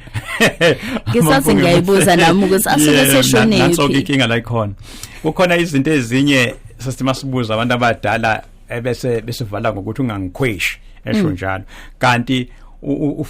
ngisathi ngiyayibuza nami ukuthi asuke seshonephi nanso inkinga la ikhona kukhona izinto ezinye sasima sibuza abantu abadala ebese eh, besivala ngokuthi ungangikhweshi esho mm. njalo kanti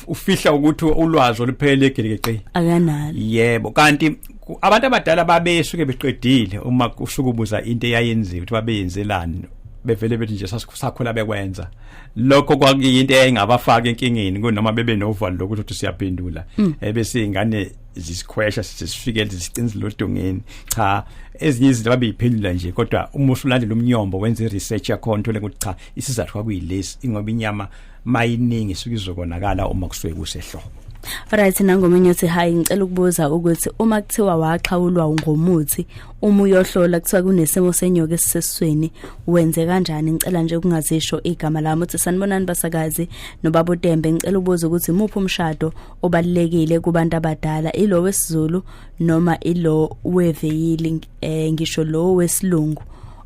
ufihla ukuthi ulwazi oluphelele egelikeci akanalo yebo kanti abantu abadala babesuke beqedile uma usukubuza into eyayenziwe ukuthi babeyenzelani bevele bethi nje sakhula bekwenza lokho kwakuyinto eyayingabafaka enkingeni kunoma bebe novalo lokuthi uthi siyaphendula mm. ebese ingane zisikhwesha sisifike zisicinzile odongeni cha ezinye izinto babeyiphendula nje kodwa uma usulandela umnyombo wenze research yakho nthole ukuthi cha isizathu kwakuyilesi ingoba inyama mayiningi suke izokonakala uma kusuke kusehlobo Alright nangomunye uthi hayi ngicela ukubuza ukuthi uma kuthiwa waxhawulwa ngomuthi uma uyohlola kuthiwa kunesimo senyoka esisesweni wenze kanjani ngicela nje ukungazisho igama lami uthi sanibonani basakazi nobaba uTembe ngicela ubuza ukuthi muphi umshado obalekile kubantu abadala ilo wesiZulu noma ilo weveyili eh, ngisho lo wesilungu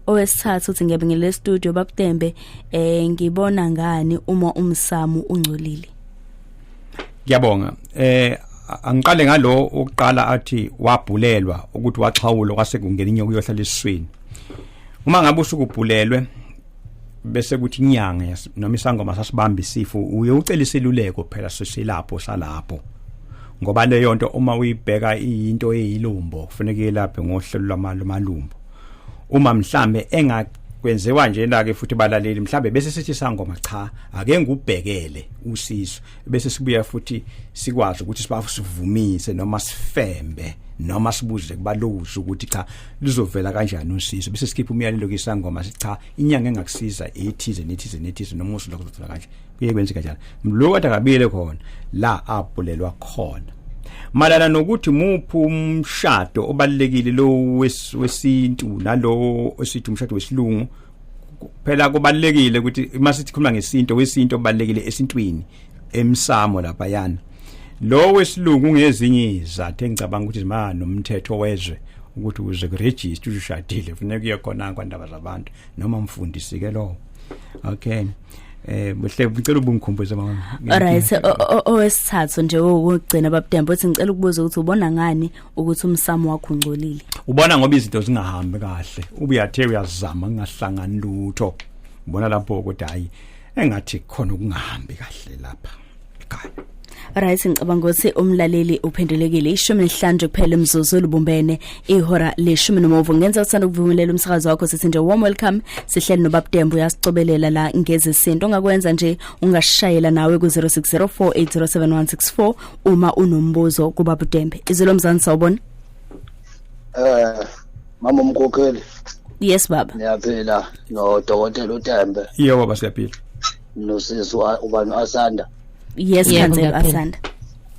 owesithathu uthi ngiyabe ngile studio babutembe eh ngibona ngani uma umsamu ungcolile ngiyabonga eh angiqale ngalo oqala athi wabhulelwa ukuthi waxhawula kwase kungena inyoka uyohlala esiswini uma ngabe usukubhulelwe bese kuthi inyanga noma isangoma sasibamba isifo uye ucela isiluleko phela sisilapho salapho ngoba leyo nto uma uyibheka into eyilumbo kufanele yelaphe ngohlelo lwamalumbo uma mhlambe enga kwenziwa njena ke futhi balaleli mhlambe bese sithi sangoma cha ake ngubhekele usizo bese sibuya futhi sikwazi ukuthi sibafu sivumise noma sifembe noma sibuze kubaluza ukuthi cha lizovela kanjani usizo bese sikhipha umyalelo ke sangoma sithi cha inyanga engakusiza ethize nethize nethize noma usuku lokuzothola kanje kuye kwenzeka njalo lo kade akabile khona la abulelwa khona malana nokuthi muphi umshado obalekile lo wesintu nalowo osithi umshado wesilungu phela kubalekile ukuthi uma sithi khuluma ngesinto wesinto obalekile esintwini emsamo lapha yana lo wesilungu ngezinye izathu engicabanga ukuthi zimana nomthetho wezwe ukuthi uze kuregister ushadile funeka uye khona kwandaba zabantu noma mfundisi ke lowo okay eh buhle ngicela ubungikhumbuze mama alright owesithathu nje wokugcina babudembe uthi ngicela ukubuza ukuthi ubona ngani ukuthi umsamo wakho ungcolile ubona ngoba izinto zingahambi kahle ubuyathe uyazama kungahlangani lutho ubona lapho ukuthi hayi engathi khona ukungahambi kahle lapha Right ngicabanga ukuthi umlaleli uphendulekile ishumi nesihlanje kuphela umzuzu lubumbene ihora leshumi nomuvo ngenza usanda ukuvumelela umsakazo wakho sithi nje warm welcome sihleli nobabdembu uyasicobelela la ngezesinto ongakwenza nje ungashayela nawe ku 0604807164 uma unombuzo kubabdembe izilo mzansi sawubona eh mama umkhokheli yes baba ngiyaphila no dokotela uTembe yebo baba siyaphila nosisi ubani asanda yes khansela asanda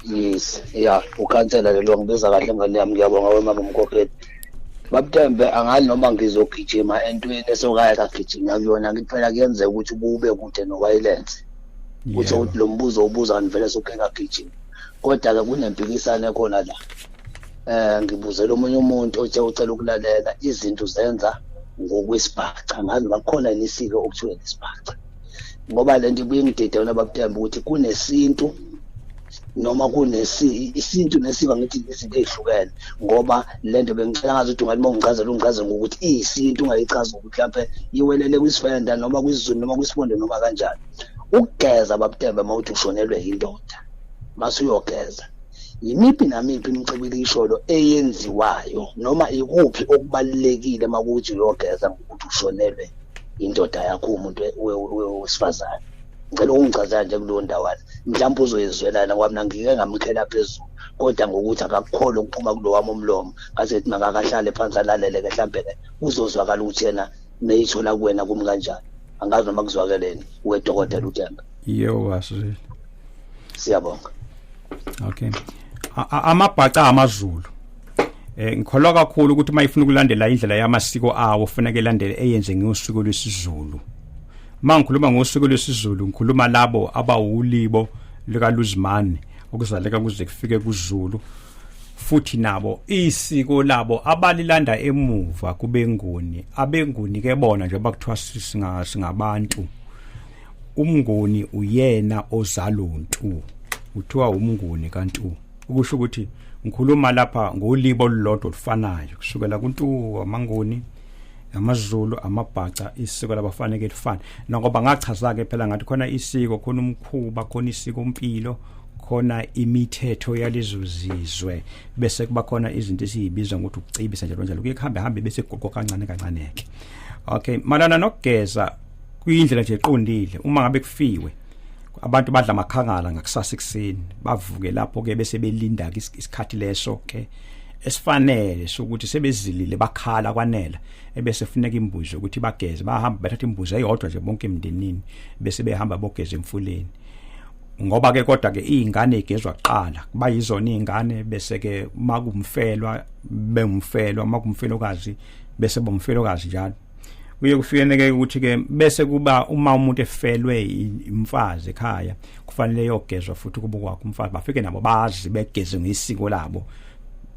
yes ya ukhansela lelo ngibiza kahle ngane yami ngiyabonga wemama mkhokheli babtembe angali noma ngizogijima entweni esokaya kagijima kuyona ngithi phela kuyenzeka ukuthi ubube kude nowayilense kutho ukuthi lo mbuzo ubuza ngivele soke kagijima kodwa-ke kunempikisane khona la eh ngibuzela omunye umuntu othe ucela ukulalela izinto zenza ngokwesibhaca ngazi bakhona nisike okuthiwa isibhaca ngoba lento ibuyingidide wona bakutemba ukuthi kunesintu noma kunesi isintu nesiko ngithi izinto ezihlukene ngoba lento bengicela ngazi ukuthi ungathi mawungicazela ungicazela ngokuthi iyisintu ungayichaza ukuthi mhlawumbe iwelele kwisifenda noma kwizulu noma kwisibondo noma kanjani ukugeza babutembe mawuthi ushonelwe yindoda masuyogeza yimiphi namiphi imicibilikisholo eyenziwayo noma ikuphi okubalulekile uma kuthi uyogeza ngokuthi ushonelwe indoda yakho umuntu wesifazane ngicela ukungichazela nje kuleyo ndawana mhlawumbe uzoyizwelana ngoba mina ngike ngamkhela phezulu kodwa ngokuthi akakukhole ukuphuma kulo wami umlomo ngaze kuthi makakahlale phansi alalele-ke mhlawumbe-ke uzozwakala ukuthi yena meyithola kuwena kumi kanjani angazi noma kuzwakeleni wedokotela utemba Yo wasile. Siyabonga. Okay. Amabhaca amaZulu. Eh ngikholwa kakhulu ukuthi uma ifuna ukulandela indlela yamasiko awo ufuneka elandele eyenze ngosuku lwesiZulu. Mangikhuluma ngosuku lwesiZulu ngikhuluma labo abawulibo lika Luzimane okuzaleka kuze kufike kuZulu futhi nabo isiko labo abalilanda emuva kubenguni abenguni ke bona nje bakuthiwa singabantu umnguni uyena ozaluntu kuthiwa umnguni kantu ukusho ukuthi ngikhuluma lapha ngolibo olulodwa olufanayo kusukela kuntu amanguni amazulu amabhaca isiko labafaneke lifana nakoba ngachaza ke phela ngathi khona isiko khona umkhuba khona isiko impilo khona imithetho yalezo zizwe bese kuba khona izinto esiyibiza ngokuthi ukucibisa njalo njalo kuye kuhambe hambe bese kuqoqa kancane kancane ke okay malana nokugeza kuyindlela nje eqondile uma ngabe kufiwe abantu badla amakhangala ngakusasa ekseni bavuke lapho ke bese belinda isikhathi leso ke esifanele sokuthi sebezilile bakhala kwanela ebese funeka imbuzo ukuthi bageze bahamba bathatha imbuzo eyodwa nje bonke emndenini bese behamba bogeza emfuleni ngoba ke kodwa ke izingane igezwa kuqala kuba yizona izingane bese ke makumfelwa bemfelwa makumfelokazi bese bomfelokazi njalo kuye kufikeneke ukuthi ke bese kuba uma umuntu efelwe imfazi ekhaya kufanele yogezwa futhi kubukwa kumfazi bafike nabo bazi begeze ngesiko labo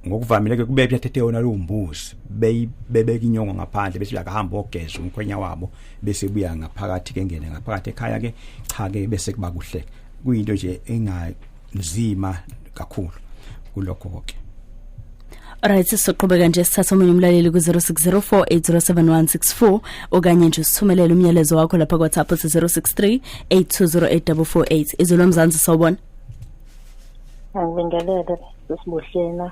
ngokuvamile ke kube kuyathethe yona lo mbuzi bebeka inyongo ngaphandle bese uyakahamba ogeza umkhwenya wabo bese buya ngaphakathi ke ngene ngaphakathi ekhaya ke cha ke bese kuba kuhle kuyinto nje enga nzima kakhulu kulokho konke Alright sizoqhubeka nje sithatha omunye umlaleli ku0604807164 okanye nje sithumelele umyalezo wakho lapha ku WhatsApp ku0638208448 izolo mzansi sawubona Ngibingelele sesibuhlena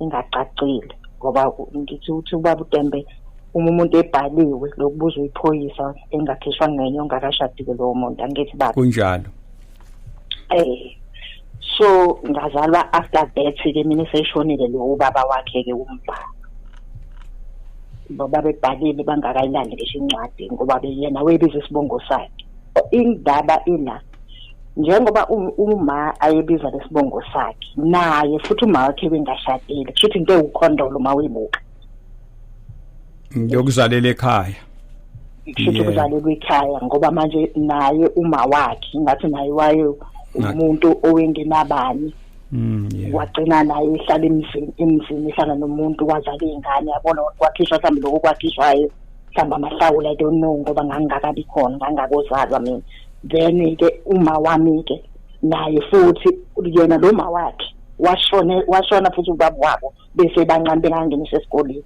ingacacile ngoba ngithi uthi ubaba uTembe uma umuntu ebhaliwe lokubuza uyiphoyisa engakhishwa ngenye ongakashadile lowo muntu angithi baba kunjalo eh so ngazalwa after that ke mina seshonile lo ubaba wakhe ke umbhalo baba bebhalile bangakayilandi ngisho incwadi ngoba beyena webiza isibongo sakhe indaba ila njengoba uma ayebiza lesibongo sakhe naye futhi uma wakhe bengashadile kusho ukuthi into ewukhondolo uma uyibuka yokuzalela ekhaya kushuthi kuzalelwa ekhaya ngoba manje naye uma wakhe ngathi naye waye umuntu owengenabani mm, wagcina naye ehlala emzini emzini ehlala nomuntu wazala iy'ngane yabona kwakhishwa mhlawumbe lokho kwakhishwayo mhlawumbe amahlawula i don't know ngoba ngangingakabi khona ngangakozalwa mina then ke uma wami ke naye futhi yena lo ma wakhe washone washona futhi ubaba wabo bese bancane bengangenisa esikoleni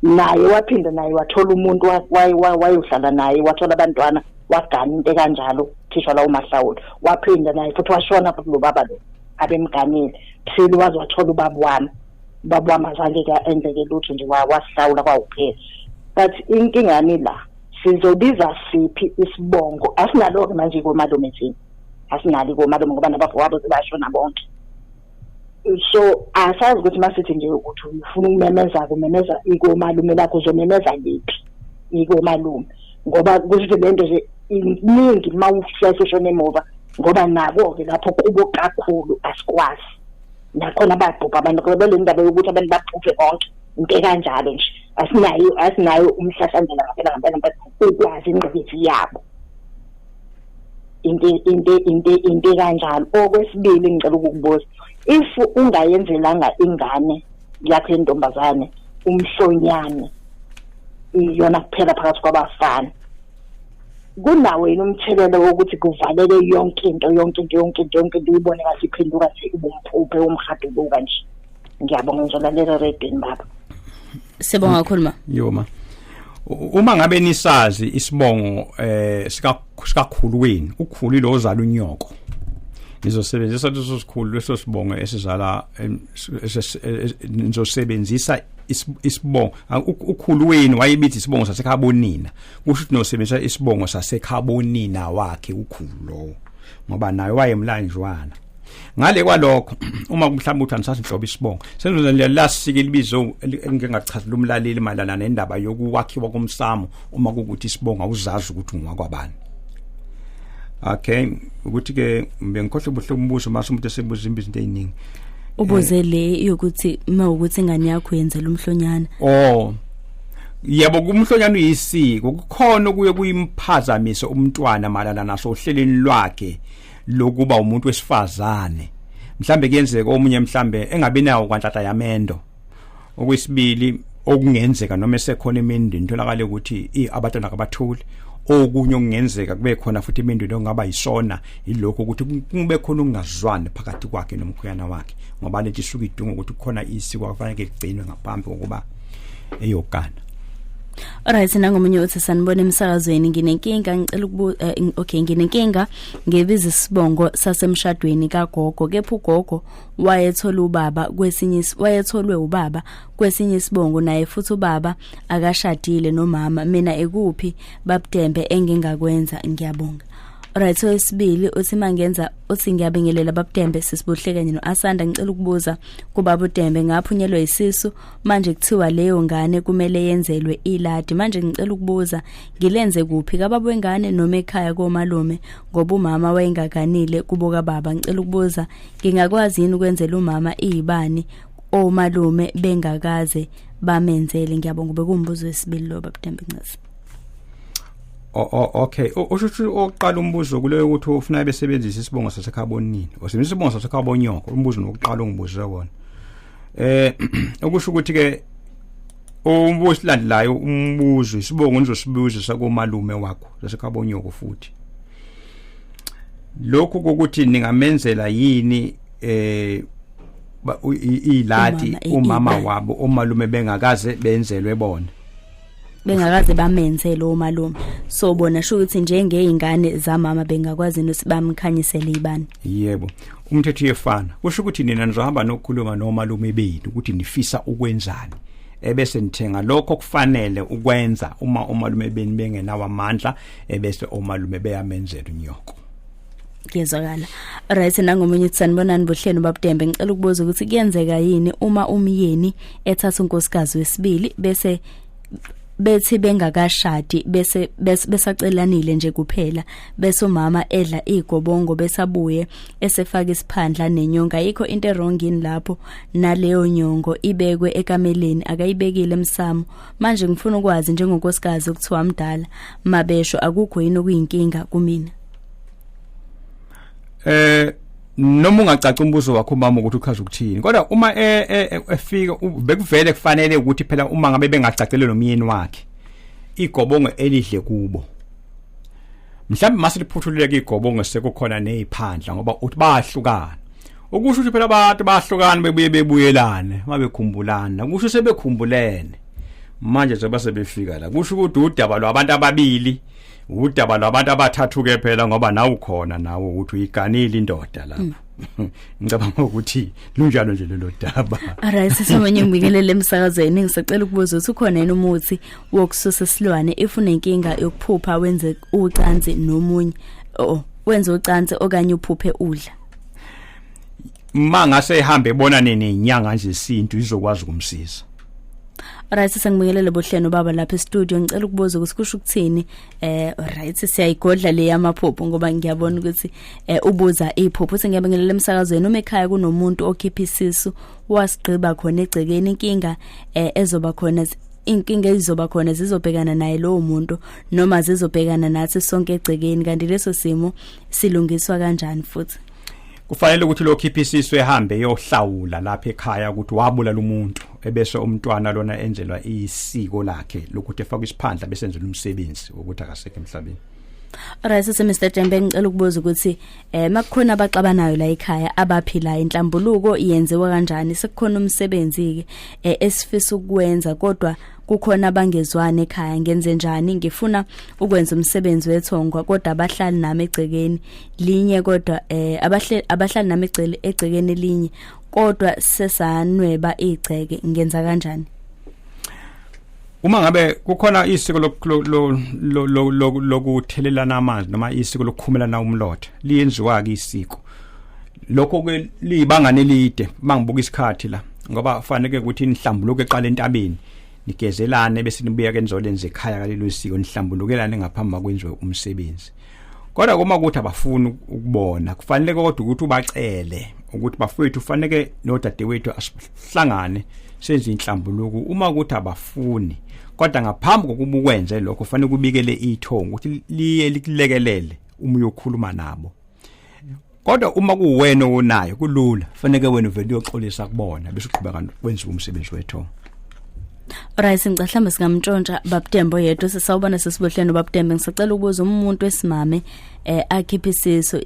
naye waphinda naye wathola umuntu wayohlala naye wathola abantwana wagana into ekanjalo thisha lawo mahlawula waphinda naye futhi washona futhi lo baba lo abemganile phela waze wathola ubaba wami ubaba wami azange ke enzeke lutho nje wasihlawula kwawuphela but inkinga yami la sizobiza siphi isibongo asinalo-ke manje komalume thina asinalo komalume ngoba nabafowabo sebashona bonke so asazi ukuthi masithi nje ukuthi ufuna ukumemeza kumemeza ikomalume lakho uzomemeza liphi ikomalume ngoba kusho le nto nje iningi uma uhlehla ushona emuva ngoba nako-ke lapho kubo kakhulu asikwazi nakhona bayabhubha abantu ngoba bele ndaba yokuthi abantu babhubhe bonke into ekanjalo nje asinayo asinayo umhlahlandlela ngampela ngampela ngampela ukwazi ingqikithi yabo into into into into kanjalo okwesibili ngicela ukukubuza if ungayenzelanga ingane yakho yentombazane umhlonyane iyona kuphela phakathi kwabafana kunawo yini umthelela wokuthi kuvaleke yonke into yonke into yonke into yonke into uyibone ngathi iphenduka nje ubumphuphe umhaduluka nje ngiyabonga ngizolalela redini baba sibonga kakhulu ma yoma uma ngabe nisazi isibongo eh sikakhulu wenu ukhulu lo ozala unyoko nizosebenzisa leso sikhulu leso sibongo esizala nizosebenzisa isibongo ukhulu wenu wayebithi isibongo sasekhaya bonina kusho ukuthi nosebenzisa isibongo sasekhabonina wakhe ukhulu lowo ngoba naye wayemlanjwana ngale kwalokho uma mhlawumbe uthi anisase inhlobo isibongo senzo nje lasike libizo engingachazela umlaleli malana nendaba yokuwakhiwa komsamo uma kukuthi isibongo awuzazi ukuthi ungakwabani okay ukuthi ke bengikhohle ubuhle umbuzo mase umuntu esebuza izinto eziningi ubuze le yokuthi uma ukuthi ingane yakho yenzela umhlonyana oh yebo kumhlonyana uyisiko kukhona kuye kuyimphazamise umntwana malana naso uhleleni lwakhe lokuba umuntu wesifazane mhlambe kuyenzeka omunye mhlambe engabi nawo kwanhlahla yamendo okwesibili okungenzeka noma esekhona imindeni tholakale ukuthi abatwana kabathuli okunye okungenzeka kube khona futhi imindeni ongaba yisona yilokho ukuthi kube khona ukungazwani phakathi kwakhe nomkhuyana wakhe ngoba lento isuke idinga ukuthi kukhona isiko akufanele ligcinwe ngaphambi kokuba eyogana Alright nangomunye uthi sanibona emsakazweni nginenkinga ngicela ukubu eh, okay nginenkinga ngebiza isibongo sasemshadweni kagogo kepha ugogo wayethola ubaba kwesinye wayetholwe ubaba kwesinye isibongo naye futhi ubaba akashadile nomama mina ekuphi babudembe engingakwenza ngiyabonga Alright so isibili uthi mangenza uthi ngiyabingelela babudembe sisibuhle kanye noAsanda ngicela ukubuza kubaba uDembe ngaphunyelwe isisu manje kuthiwa leyo ngane kumele yenzelwe iladi manje ngicela ukubuza ngilenze kuphi kababa wengane noma ekhaya komalume ngoba umama wayengaganile kubo kababa ngicela ukubuza ngingakwazi yini ukwenzela umama izibani omalume bengakaze bamenzele ngiyabonga ube kumbuzo wesibili lo babudembe ncisi okay usho ukuthi oqala umbuzo kuleyo ukuthi ufuna besebenzisa isibongo sasekhaya bonini usebenzisa isibongo sasekhaya bonyoko umbuzo nokuqala ongibuze wona eh okusho ukuthi ke umbuzo silandelayo umbuzo isibongo nizosibuza sakomalume wakho sasekhabonyoko futhi lokhu ukuthi ningamenzela yini eh ilati umama wabo omalume bengakaze benzelwe bona bengakaze bamenze lo malume so bona sho ukuthi njengeingane zamama bengakwazi ukuthi bamkhanyisele ibani yebo umthetho uyefana kusho ukuthi nina nizahamba nokukhuluma nomalume benu ukuthi nifisa ukwenzani ebese nithenga lokho kufanele ukwenza uma omalume beni bengenawo amandla ebese omalume beyamenzela unyoko kuyezwakala right nangomunye uthi sanibonani buhleni babudembe ngicela ukubuza ukuthi kuyenzeka yini uma umyeni ethatha unkosikazi wesibili bese bethi bengakashadi bese besacelanile nje kuphela bese umama edla igobongo besabuye esefaka isiphandla nenyonga yikho into erong yini lapho naleyo nyongo ibekwe ekameleni akayibekile emsamo manje ngifuna ukwazi njengonkosikazi ukuthiwa mdala mabesho akukho yini okuyinkinga kumina eh noma ungacaca umbuzo wakho umama ukuthi uchaza ukuthini kodwa uma e, e, e, efika bekuvele kufanele ukuthi phela uma ngabe bengacacele nomyeni wakhe igobongo elidle kubo mhlawumbe mase liphuthululeke igobongo sekukhona neziphandla ngoba uthi bayahlukana ukusho ukuthi phela abantu bayahlukana bebuye bebuyelane mabekhumbulana kusho sebekhumbulene manje zoba sebefika la kusho ukuthi udaba lwabantu ababili udaba lwabantu abathathu ke phela ngoba nawu khona nawo ukuthi uyiganile indoda lapho mm. ngicabanga ukuthi lunjalo nje lelo daba alright sisamenye ngibingelele emsakazweni ngisacela ukubuza ukuthi ukhona yini umuthi wokususa isilwane if unenkinga yokuphupha wenze ucansi nomunye oh wenze ucansi okanye uphuphe udla uma ngase ehambe ebona nini inyanga nje isintu izokwazi ukumsiza Alright sengibingelele bohleno baba lapha e-studio ngicela ukubuza ukuthi kusho ukuthini eh alright siyayigodla le yamaphupho ngoba ngiyabona ukuthi eh, ubuza iphupho sengiyabingelele emsakazweni uma ekhaya kunomuntu okhipha isisu wasigqiba khona egcekeni inkinga eh, ezoba khona inkinga ezizoba khona zizobhekana naye lowo muntu noma zizobhekana nathi sonke egcekeni kanti leso simo silungiswa kanjani futhi kufanele ukuthi lo khipha isisu ehambe eyohlawula lapha ekhaya ukuthi wabulala umuntu ebese umntwana lona enzelwa isiko lakhe lokuthi efaka isiphandla bese enzela umsebenzi wokuthi akasekho emhlabeni Alright sisi Mr Jembe ngicela ukubuza ukuthi eh makukhona abaxabanayo la ekhaya abaphila inhlambuluko yenziwa kanjani sekukhona umsebenzi ke eh, esifisa ukwenza kodwa kukhona abangezwani ekhaya ngenze njani ngifuna ukwenza umsebenzi wethongo kodwa abahlali nami egcekeni linye kodwa eh abahle abahlali nami egcele egcekeni linye kodwa sesanweba igceke ngenza kanjani uma ngabe kukhona isiko lokuthelelana amanzi noma isiko lokukhumelana umlotha liyenziwa ke isiko lokho ke liyibangane elide mangibuka isikhathi la ngoba fanele ukuthi nihlambuluke eqala entabeni nigezelane bese nibuya ke nizolenza ekhaya kalelo siko nihlambulukelane ngaphambi kwakwenziwe umsebenzi kodwa uma ukuthi abafuni ukubona kufanele kodwa ukuthi ubacele ukuthi bafowethu kufanele nodadewethu asihlangane senze inhlambuluko uma ukuthi abafuni kodwa ngaphambi kokuba ukwenze lokho kufanele kubikele ithongo ukuthi liye likulekelele uma uyokhuluma nabo kodwa uma kuwena onayo kulula faneke wena uvele uyoxolisa kubona bese uqhubeka wenziwa umsebenzi wethu Right singicela mhlawumbe singamntshontsha babudembo yedwa sisawubona sesibohleni babudembe ngisacela ukubuza umuntu wesimame eh akhiphe isiso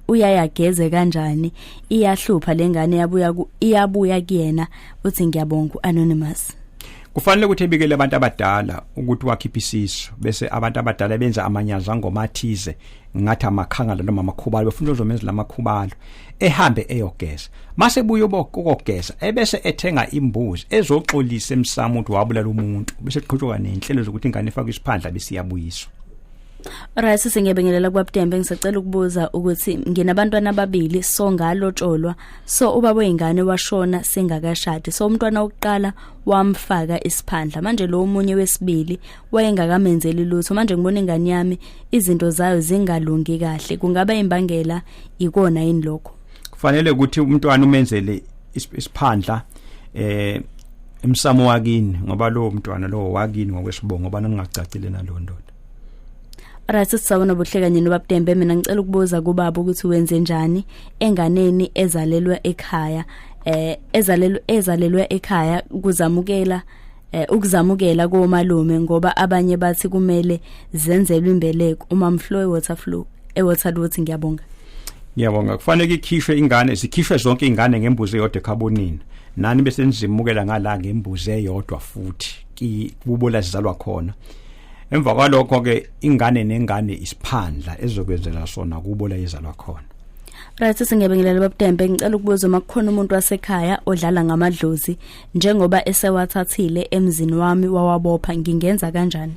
uyayageze kanjani iyahlupha lengane yabuya iyabuya kuyena uthi ngiyabonga anonymous kufanele ukuthi ebikele abantu abadala ukuthi wakhiphe isisu bese abantu abadala benza amanyaza ngomathize ngathi amakhangala noma amakhubalo befuna uzomenza lamakhubalo ehambe eyogeza mase buye ukogeza ebese ethenga imbuzi ezoxolisa emsamo ukuthi wabulala umuntu bese qhutshwa nenhlelo zokuthi ingane ifakwe isiphandla besiyabuyiswa Right sisi ngiyabingelela kwaButembe ngisacela ukubuza ukuthi nginabantwana ababili so ngalotsholwa so ubaba weingane washona singakashadi so umntwana wokuqala wamfaka isiphandla manje lo omunye wesibili wayengakamenzeli lutho manje ngibona ingane yami izinto zayo zingalungi kahle kungaba imbangela ikona yini lokho kufanele ukuthi umntwana umenzele isiphandla eh emsamo wakini ngoba lo mntwana lo wakini ngokwesibongo ngoba ningacacile nalondoda Right sisawona buhle kanye nobabudembe mina ngicela ukubuza kubaba ukuthi wenze njani enganeni ezalelwa ekhaya eh ezalelwa ezalelwa ekhaya kuzamukela eh, ukuzamukela komalume ngoba abanye bathi kumele zenzelwe imbeleko uma mflow water flow e water water ngiyabonga ngiyabonga kufanele ikhishwe ingane sikhishwe zonke ingane ngembuzi eyodwa ekhabonini nani bese nizimukela ngala ngembuzi eyodwa futhi kubo la sizalwa khona emva kwalokho ke ingane nengane isiphandla ezokwenzela sona kubo la izalwa khona Right singebingelela babutembe ngicela ukubuza uma kukhona umuntu wasekhaya odlala ngamadlozi njengoba esewathathile emzini wami wawabopha ngingenza kanjani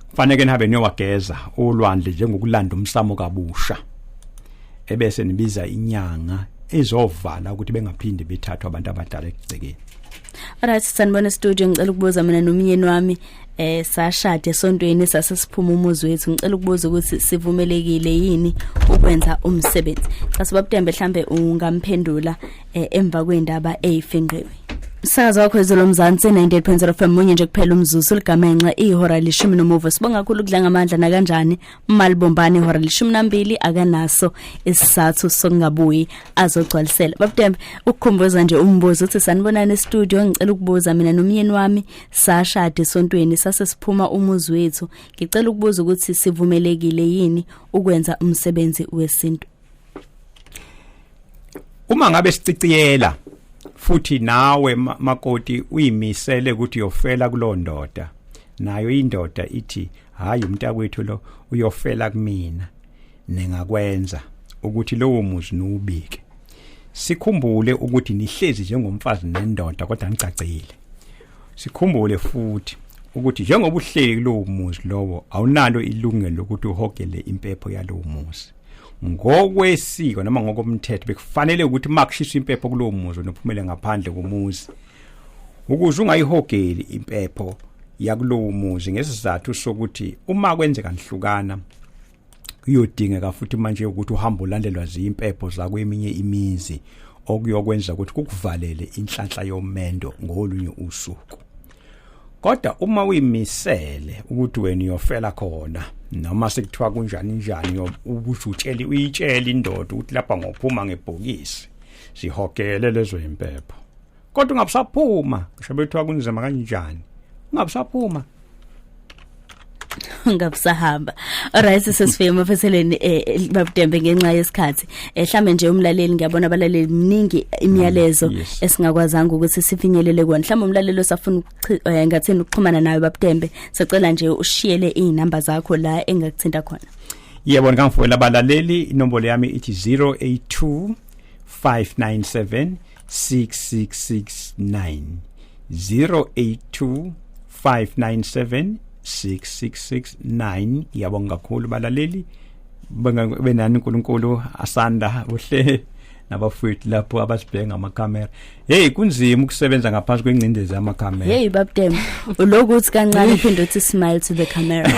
kufanele nihabe niyowageza ulwandle njengokulanda umsamo kabusha ebese nibiza inyanga ezovala ukuthi bengaphinde bethathwa abantu abadala ekugcekeni Alright sanibona studio ngicela ukubuza mina nomyeni wami eh sashade sontweni sase siphuma umuzi wethu ngicela ukubuza ukuthi sivumelekile yini ukwenza umsebenzi cha sibabutembe mhlambe ungamphendula eh, emva kwendaba eyifingqiwe Saza wakho izolo mzansi 98.0 FM munye nje kuphela umzuzu ligamenxe ihora lishumi nomuva sibonga kakhulu kudla ngamandla nakanjani malibombani ihora lishumi nambili akanaso isizathu sokungabuyi azogcwalisela babudembe ukukhumbuza nje umbuzo uthi sanibonana e-studio ngicela ukubuza mina nomyeni wami sashade esontweni sase siphuma umuzi wethu ngicela ukubuza ukuthi sivumelekile yini ukwenza umsebenzi wesintu uma ngabe siciciyela futhi nawe makoti uyimisele ukuthi uyofela kulondoda nayo indoda ithi hayi umntakwethu lo uyofela kumina ningakwenza ukuthi lowo muzi nuwubike sikhumbule ukuthi nihlezi njengomfazi nendoda kodwa ngicacile sikhumbule futhi ukuthi njengoba uhleli kulowo muzi lowo awunalo ilungelo lokuthi uhogele impepho yalowo muzi ngokwesiko noma ngokomthetho bekufanele ukuthi makushiswa impepho kulowo muzi nophumele ngaphandle komuzi ukuze ungayihogeli impepho yakulowo muzi ngesizathu sokuthi uma kwenzeka nihlukana kuyodingeka futhi manje ukuthi uhambe ulandelwa ziyimpepho zakweminye imizi okuyokwenza ukuthi kukuvalele inhlanhla yomendo ngolunye usuku kodwa uma uyimisele ukuthi wena uyofela khona noma sekuthiwa kunjani njani ukusho utsheli uyitshela indoda ukuthi lapha ngophuma ngebhokisi sihogele lezo impepho kodwa ungabusaphuma ngisho bethiwa kunzima kanjani ungabusaphuma ngabusahamba alright sesifike emaphethelweni eh, eh, babudembe ngenxa yesikhathi eh, mhlambe nje umlaleli ngiyabona abalaleli miningi imiyalezo mm, esingakwazanga ukuthi sifinyelele kona mhlambe umlaleli osafuna ngathini ukuxhumana nawe babudembe sicela nje ushiyele izinamba zakho la engakuthinta khona yebo ngamfowela abalaleli inombolo yami ithi 082 597 6669 082 597 6669 ngiyabonga kakhulu balaleli benani uNkulunkulu asanda uhle nabafowethu lapho abasibheke ngamakamera hey kunzima ukusebenza ngaphansi kwengcindezi yamakamera hey babdem ulokuthi kancane uphinde uthi smile to the camera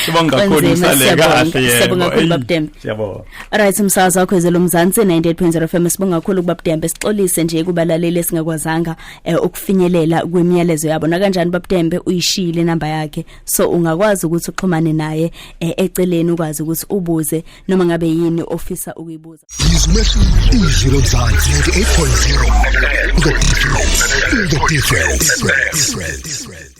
sibonga kakhulu usaleka kahle yebo siyabonga kakhulu babdem siyabonga Right umsakazo wakho ezelo Mzansi 98.0 FM sibonga kakhulu ukuba Budembe sixolise nje kubalaleli esingakwazanga eh, ukufinyelela kwemiyalezo yabo nakanjani babudembe uyishile inamba yakhe so ungakwazi ukuthi uxhumane naye eh, eceleni ukwazi ukuthi ubuze noma ngabe yini ofisa ukuyibuza izilo Mzansi 98.0 the difference the difference